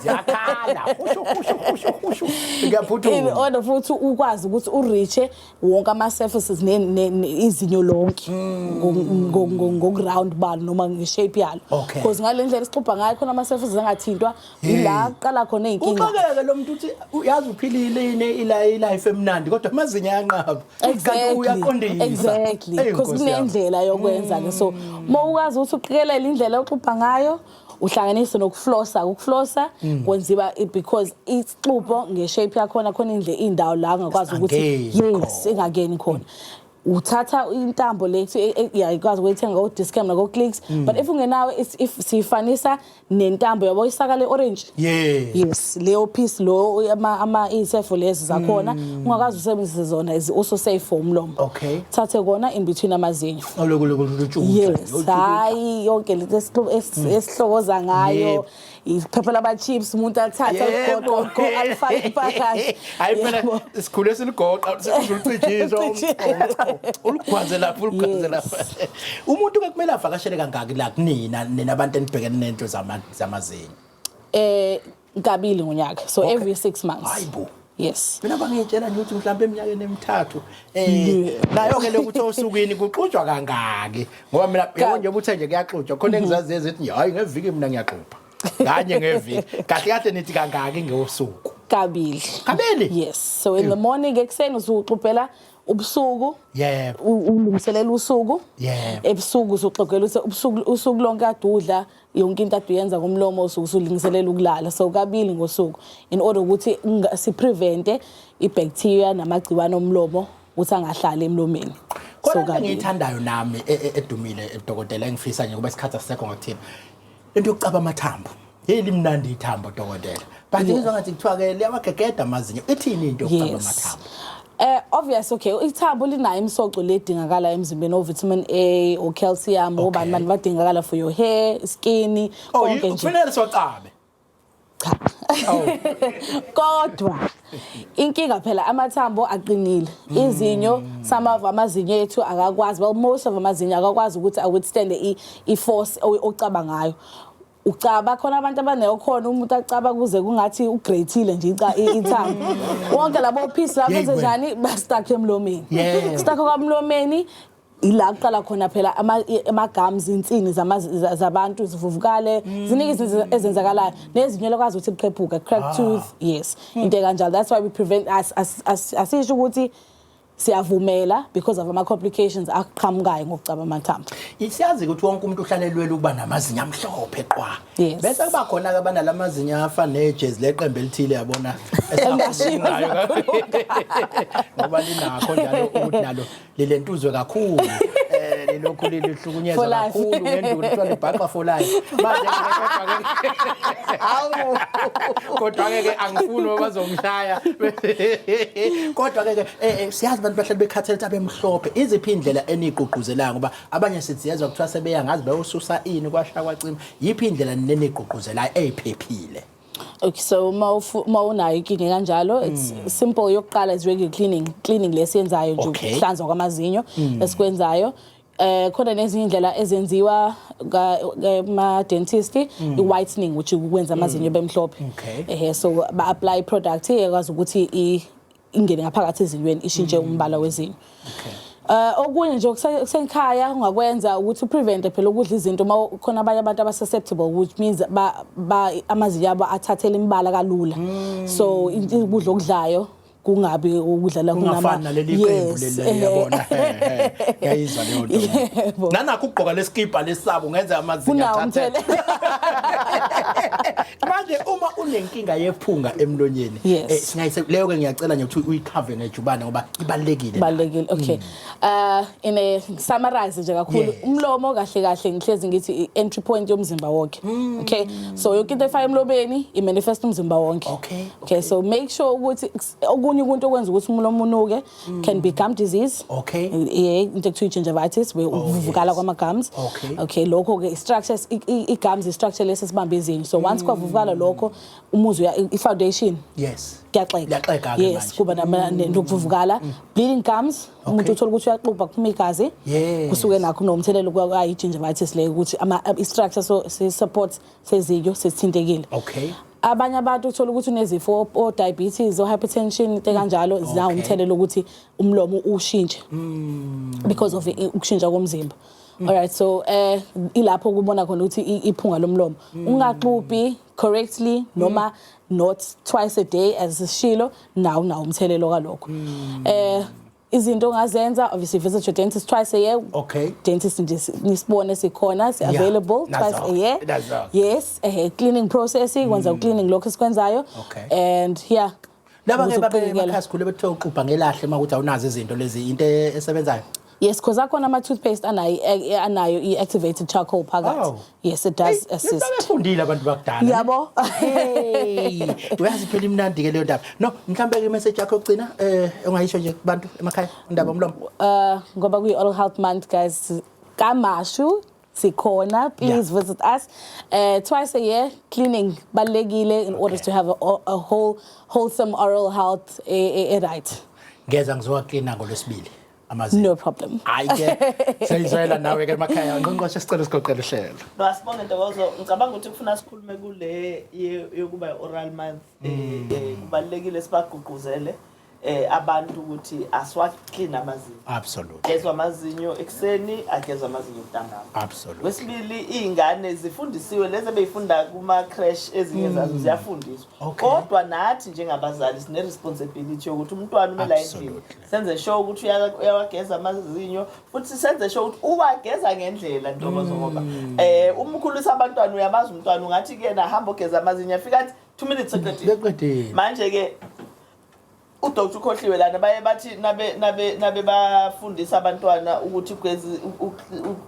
Ziyakhala. Hushu hushu hushu hushu. in order futhi ukwazi ukuthi ureache wonke ama-surfaces izinyo lonke hmm. ngokuround balo noma ngeshape yalo because ngale ndlela esixubha ngayo khona ama-surfaces angathintwa yila kuqala khona iy'nkinga uxakeke lo muntu uthi yazi uphilile ilife emnandi kodwa amazinyo ayanqaba kanti uyaqondisa exactly because kunendlela yokwenza-ke so uma ukwazi ukuthi uqikelele indlela oxubha ngayo uhlanganise nokuflosa ukuflosa mm. kwenziwa because isixubo ngeshape yakhona khona indle indawo la ngakwazi ukuthi yes ingakeni khona uthatha intambo lethu e, e, yakwazi ukuyithenga ko-discam nako-clicks mm. but if ungenawo if siyifanisa nentambo yabo isaka le-orange yes leyo piece lo iy'sefo lezi zakhona mm. ungakwazi usebenzise zona uso-safe for umlomo thathe kona in between amazinyo yes hayi yonke lento esihlokoza ngayo iphepha lama-chips umuntu athathe aligoqo alifake impakashe hayi phela sikhule siligoqa ulicijiswa uligwaze lapho uligwaze lapho umuntu ke kumele avakashele kangaki la kunina nina abantu enibhekene nento zamazinyo eh kabili ngonyaka so okay. every 6 months hayibo yes mina bangitshela nje ukuthi mhlawumbe eminyakeni emithathu eh nayo ke lokuthi osukwini kuxujwa kangaki ngoba mina yebo nje ubuthe nje kuyaxujwa khona mhm. engizazi ezithi hayi ngeviki mina ngiyaxupha kanye ngeviki kahle kahle nithi kangaki ngosuku kabili kabili yes so in the morning ekuseni uzuxubhela ubusuku yebo ulungiselela usuku yebo ebusuku uzoxogela usuku usuku lonke adudla yeah. yonke into ade uyenza ngomlomo usuke usulingiselela ukulala so kabili ngosuku in order ukuthi siprevente ibacteria namagciwane omlomo ukuthi angahlali emlomeni khona into engiyithandayo nami e, e, edumile edokotela engifisa nje kuba isikhathi asisekho ngakuthina into yokucaba amathambo hey limnandi ithambo dokotela Kanti ngizwa ngathi kuthiwa ke liyawagegeda amazinyo. Ithini into yokucaba amathambo? Eh obvious okay ithambo linayo imisoco ledingakala emzimbeni ovitamin A o calcium obani bani badingakala for your hair, skin oh, konke nje. Oh kufanele socabe. Cha. Oh. Kodwa inkinga phela amathambo aqinile mm. izinyo some of amazinyo ethu akakwazi well most of amazinyo akakwazi ukuthi awithstand i force ocaba ngayo ucaba khona abantu abaneyokhona umuntu acaba kuze kungathi ugreythile nje ica ithanga wonke labo piece labo Yey, wena. njani bastakhe emlomeni Yeah. stakhe kwamlomeni ila kuqala khona phela ama- i- amagums insini zama- za- zabantu zivuvukale ziningi izinto ezenzakalayo nezinyo lokwazi ukuthi liqephuka crack tooth yes into ekanjalo that's why we prevent as- as- as- asisho ukuthi siyavumela because of ama complications aqhamukayo ngokucaba amathambo isiyazi ukuthi wonke umuntu uhlalelwela ukuba namazinyo amhlophe qwa yes. bese kuba khona ke abanalamazinyo afa nejezi leqembu elithile yabona esingashinayo ngoba linakho njalo ukuthi nalo lilentuzwe kakhulu eh lilokhu lilihlo Hlukunyezwa For life. kakhulu ngenduli kuthiwa libhaqa for life manje Hawu. kodwa-ke ke angifuni ngoba bazongishaya kodwa-ke ke eh, eh, siyazi abantu bahlale bekhathele ukuthi abemhlophe iziphi iy'ndlela eniyigqugquzelayo ngoba abanye sithi yezwa kuthiwa sebeya ngazi beyosusa ini kwasha kwacima yiphi indlela neniyigqugquzelayo eyiphephile Okay so uma ufu- uma unayo inkinga kanjalo it's simple yokuqala is regular cleaning cleaning lesiyenzayo nje Mm. Okay. Mm. ukuhlanzwa kwamazinyo esikwenzayo eh khona nezinye indlela ezenziwa ma dentist mm. i whitening which ukwenza amazinyo mm. bemhlophe eh so ba apply product ekwazi ukuthi ingene ngaphakathi ezinyweni ishintshe mm. umbala wezinyo okay Eh okunye nje okusenkhaya ungakwenza ukuthi uprevente phela ukudla izinto uma khona abanye abantu aba susceptible which means ba amazinyo abo athathela imbala kalula mm. so ukudla okudlayo kungabi ukudlala kungafani naleli qembu leli yabona ngiyayizwa leyo nto nanakho ugqoka lesikipa lesabo ngenze amazinga athathe manje uma unenkinga yephunga emlonyeni eh, singayise leyo ke ngiyacela nje ukuthi uyikhave ngejubane ngoba ibalekile balekile okay hmm. uh in a summarize nje kakhulu umlomo kahle kahle ngihlezi ngithi entry point yomzimba wonke hmm. okay so yonke into efaya emlobeni i manifest umzimba wonke okay Okay, so make sure ukuthi okunye ukuntu okwenza ukuthi umuntu omunuke mm. can be gum disease. Okay. Yeah, into ekuthiwa gingivitis we oh, ukuvukala kwama gums. Okay. Okay, lokho ke structure i gums i structure lesi sibambe izinyo. So once mm. kwavukala lokho umuzi uya i foundation. Yes. Kuyaxeka. Kuyaxeka ke manje. Yes, kuba mm. nokuvukala. Bleeding gums umuntu uthola ukuthi uyaxubha kuphuma igazi. Kusuke nakho nomthelela kwa i gingivitis le ukuthi ama structure so support sezityo sesithintekile okay abanye abantu uthola ukuthi unezifo o diabetes o hypertension into kanjalo okay. zawumthelela ukuthi umlomo ushintshe mm. because of ukushintsha komzimba mm. alright so eh ilapho kubona khona ukuthi iphunga lomlomo mm. ungaxubhi correctly noma mm. not twice a day as sishilo nawo nawo umthelelo kalokho mm. eh izinto ongazenza obviously visit your dentist twice a year okay dentist nje nisibone sikhona si available yeah. twice a year That's all. yes eh cleaning process ikwenza mm. cleaning lokho esikwenzayo okay. and yeah laba ke babe emakhasi khule bethe uqubha ngelahle uma ukuthi awunazo izinto lezi into esebenzayo yes because akhona ama toothpaste anayo eh, eh, anayo i activated charcoal phakathi oh. Yes it does assist. Nisebefundile abantu bakudala. Yabo. Hey, uyazi phela imnandi ke leyo ndaba. No, mhlambe ke message yakho yokugcina eh ongayisho nje kubantu emakhaya indaba omlomo. Uh ngoba kuyi oral health month guys kamashu sikhona please yeah. visit us uh, twice a year cleaning balekile in okay. order to have a, a whole wholesome oral health e, e, e right ngeza ngizowa cleaner ngolwesibili amazinyo no problem hayi ke siyizwela nawe ke emakhaya ngqongqoshe sicela sigoqele uhlelo basibonge ntokozo ngicabanga ukuthi kufuna sikhulume kule yokuba oral month eh, mm. eh, kubalekile sibagqugquzele eh abantu ukuthi aswa clean amazinyo absolutely gezwa amazinyo ekseni agezwa amazinyo ntambama absolutely wesibili izingane zifundisiwe lezi beyifunda kuma crash ezinye mm. zazo ziyafundiswa kodwa nathi njengabazali sine responsibility yokuthi umntwana umela endlini senze sure ukuthi uyawageza amazinyo futhi senze sure ukuthi uwageza ngendlela ntokozo ngoba mm. eh uma ukhulisa abantwana uyabazi umntwana ungathi kuyena hamba ogeza amazinyo afika athi 2 minutes seqedile manje ke udoktor ukhohliwe lana baye bathi nabe nabe nabe bafundisa abantwana ukuthi ugeza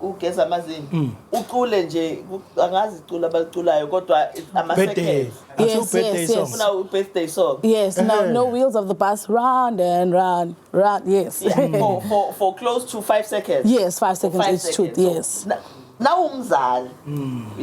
ugeza amazinyo mm. ucule nje angazi icula abaliculayo kodwa ama seconds Yes, Asiwu birthday yes, yes. song. Funa u birthday song. Yes, no, no wheels of the bus. Round and round, round. Yes. Yeah, for, for, for close to five seconds. Yes, five seconds Five each shoot. seconds. So, Yes. na- nawumzali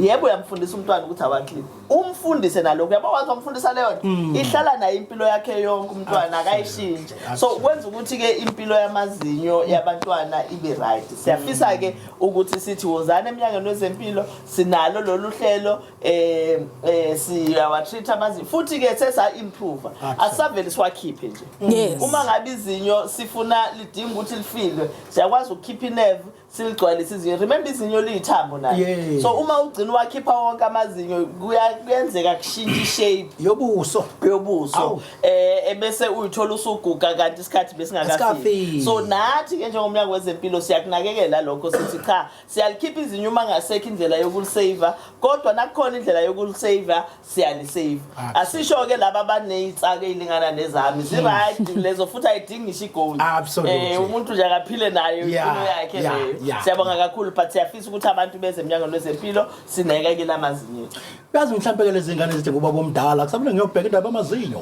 yebo uyamfundisa umntwana ukuthi awaklip umfundise nalokho yabo wazi wamfundisa leyo nto ihlala naye impilo yakhe yonke umntwana akayishintshe so kwenza ukuthi-ke impilo yamazinyo yabantwana ibe right siyafisa-ke ukuthi sithi wozani emnyangweni wezempilo sinalo lolu hlelo eh eh siyawa treat amazinyo futhi ke sesa improve asavele siwakhiphe nje Yes. uma ngabe izinyo sifuna lidinga ukuthi lifilwe siyakwazi ukukhipha inerve siligcwalise izinyo remember izinyo liyithambo nayo Yes. so uma ugcina wakhipha wonke amazinyo kuya- kuyenzeka kushintsha ishape yobuso yobuso Awu. eh ebese uyithola usuguga kanti isikhathi besingakafiki Asikafiki. so nathi ke njengomnyango wezempilo siyakunakekela lokho sithi cha siyalikhipha izinyo uma ngasekho indlela yokulisaver kodwa nakukhona indlela yokulisaver siyalisaver ah, asisho-ke laba abaneyitsaka eyilingana nezami ziright hmm. lezo futhi ayidingi ngisho igold um eh, umuntu nje akaphile nayo impilo yakhe leyo siyabonga kakhulu but siyafisa ukuthi abantu beze emnyangweni wezempilo sineke-ke lamazinyo Yazi mhlampe ke lezi ngane zithi ngubaba omdala kusamele ngiyobheka indaba amazinyo.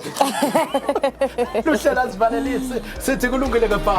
Luhlela sivalelise sithi kulungile ke bha.